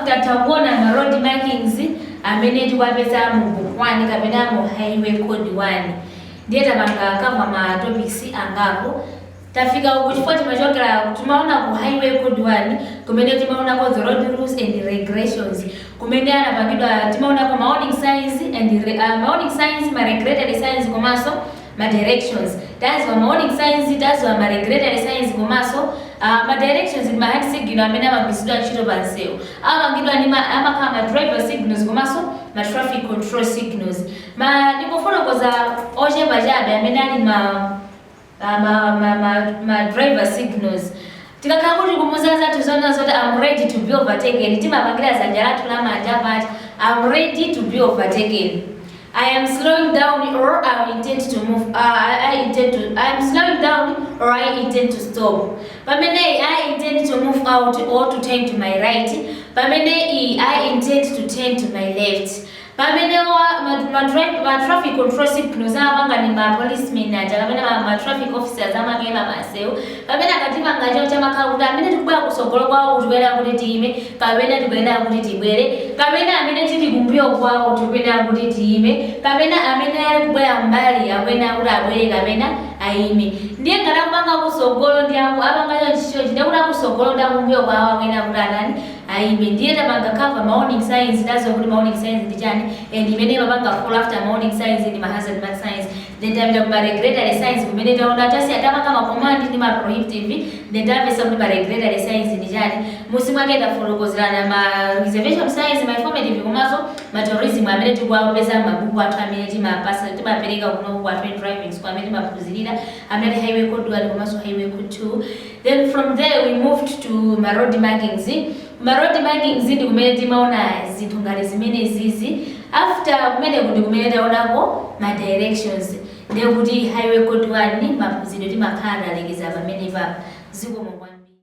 tatha kuona ma road markings amene tikuwapeza mu book 1 kapena mu highway code 1 ndiye tapanga cover ma topics angapo. Tafika uku chifukwa timachokera timaona ku highway code 1 kumene timaonako the road rules and regulations kumene anapangidwa timaonako ma warning signs and ma warning signs ma regulatory signs komanso ma directions taziwa ma warning signs taziwa ma regulatory signs komanso uh, ma directions ndi ma hand signal amene amagwiritsidwa ntchito pa msewu amapangidwa ndi ma- amakhala ma driver signals komanso ma traffic control signals koma ndikufotokoza ochepa chabe amene ali ma uh, ma, ma, ma, ma driver signals Tikakhala kuti tikumuza zathu zonena zoti am ready to be overtaken timapangira zanja lathu la manja pat am ready to be overtaken. I am slowing down or I intend to move uh, I intend to I am slowing down or I intend to stop. Pamene I intend to move out or to turn to my right. Pamene I intend to turn to my left. Pamene ma traffic control signals amapanga ndi ma police men aja kapena ma traffic officers amakayima pa nsewu, pamene akatipanga chonchi amakhala kuti amene tikubwera kutsogolo kwawo tikuyenera kuti tiyime kapena tikuyenera kuti tibwere, kapena amene tili kumbuyo kwawo tikuyenera kuti tiyime, kapena amene akubwera m'mbali akuyenera kuti abwere kapena ayime. Ndiye ngati akupanga akutsogolo ndi akapanga chonchi chonchi ndiye kuti akutsogolo ndi akumbuyo kwawo akuyenera kuti atani? Ayime ndiye tapanga cover ma warning signs taziwa kuti ma warning signs ndi chani and imene imapanga follow after ma warning signs ndi ma hazard marker signs then tapita ku ma regulatory signs kumene taona tasiya tapanga ma command ndi ma prohibitive then tamvesa kuti ma regulatory signs ndi chani musi mwake tafotokozerana ma reservation signs ma informative komanso ma tourism amene tikuwapeza m'mabuku athu amene timapasa timapereka kuno ku Atuweni driving school amene timaphunzirira amene ali highway code 1 komanso highway code 2 Then from there we moved to ma road markings. Kuma road markings ndi kumene timaona zinthu ngati zimene izizi. After kumeneku ndi kumene taonako ma directions. Ndiye kuti highway code 1 maphunziro timakhala talekeza pamenepapa. Zikomo kwambiri.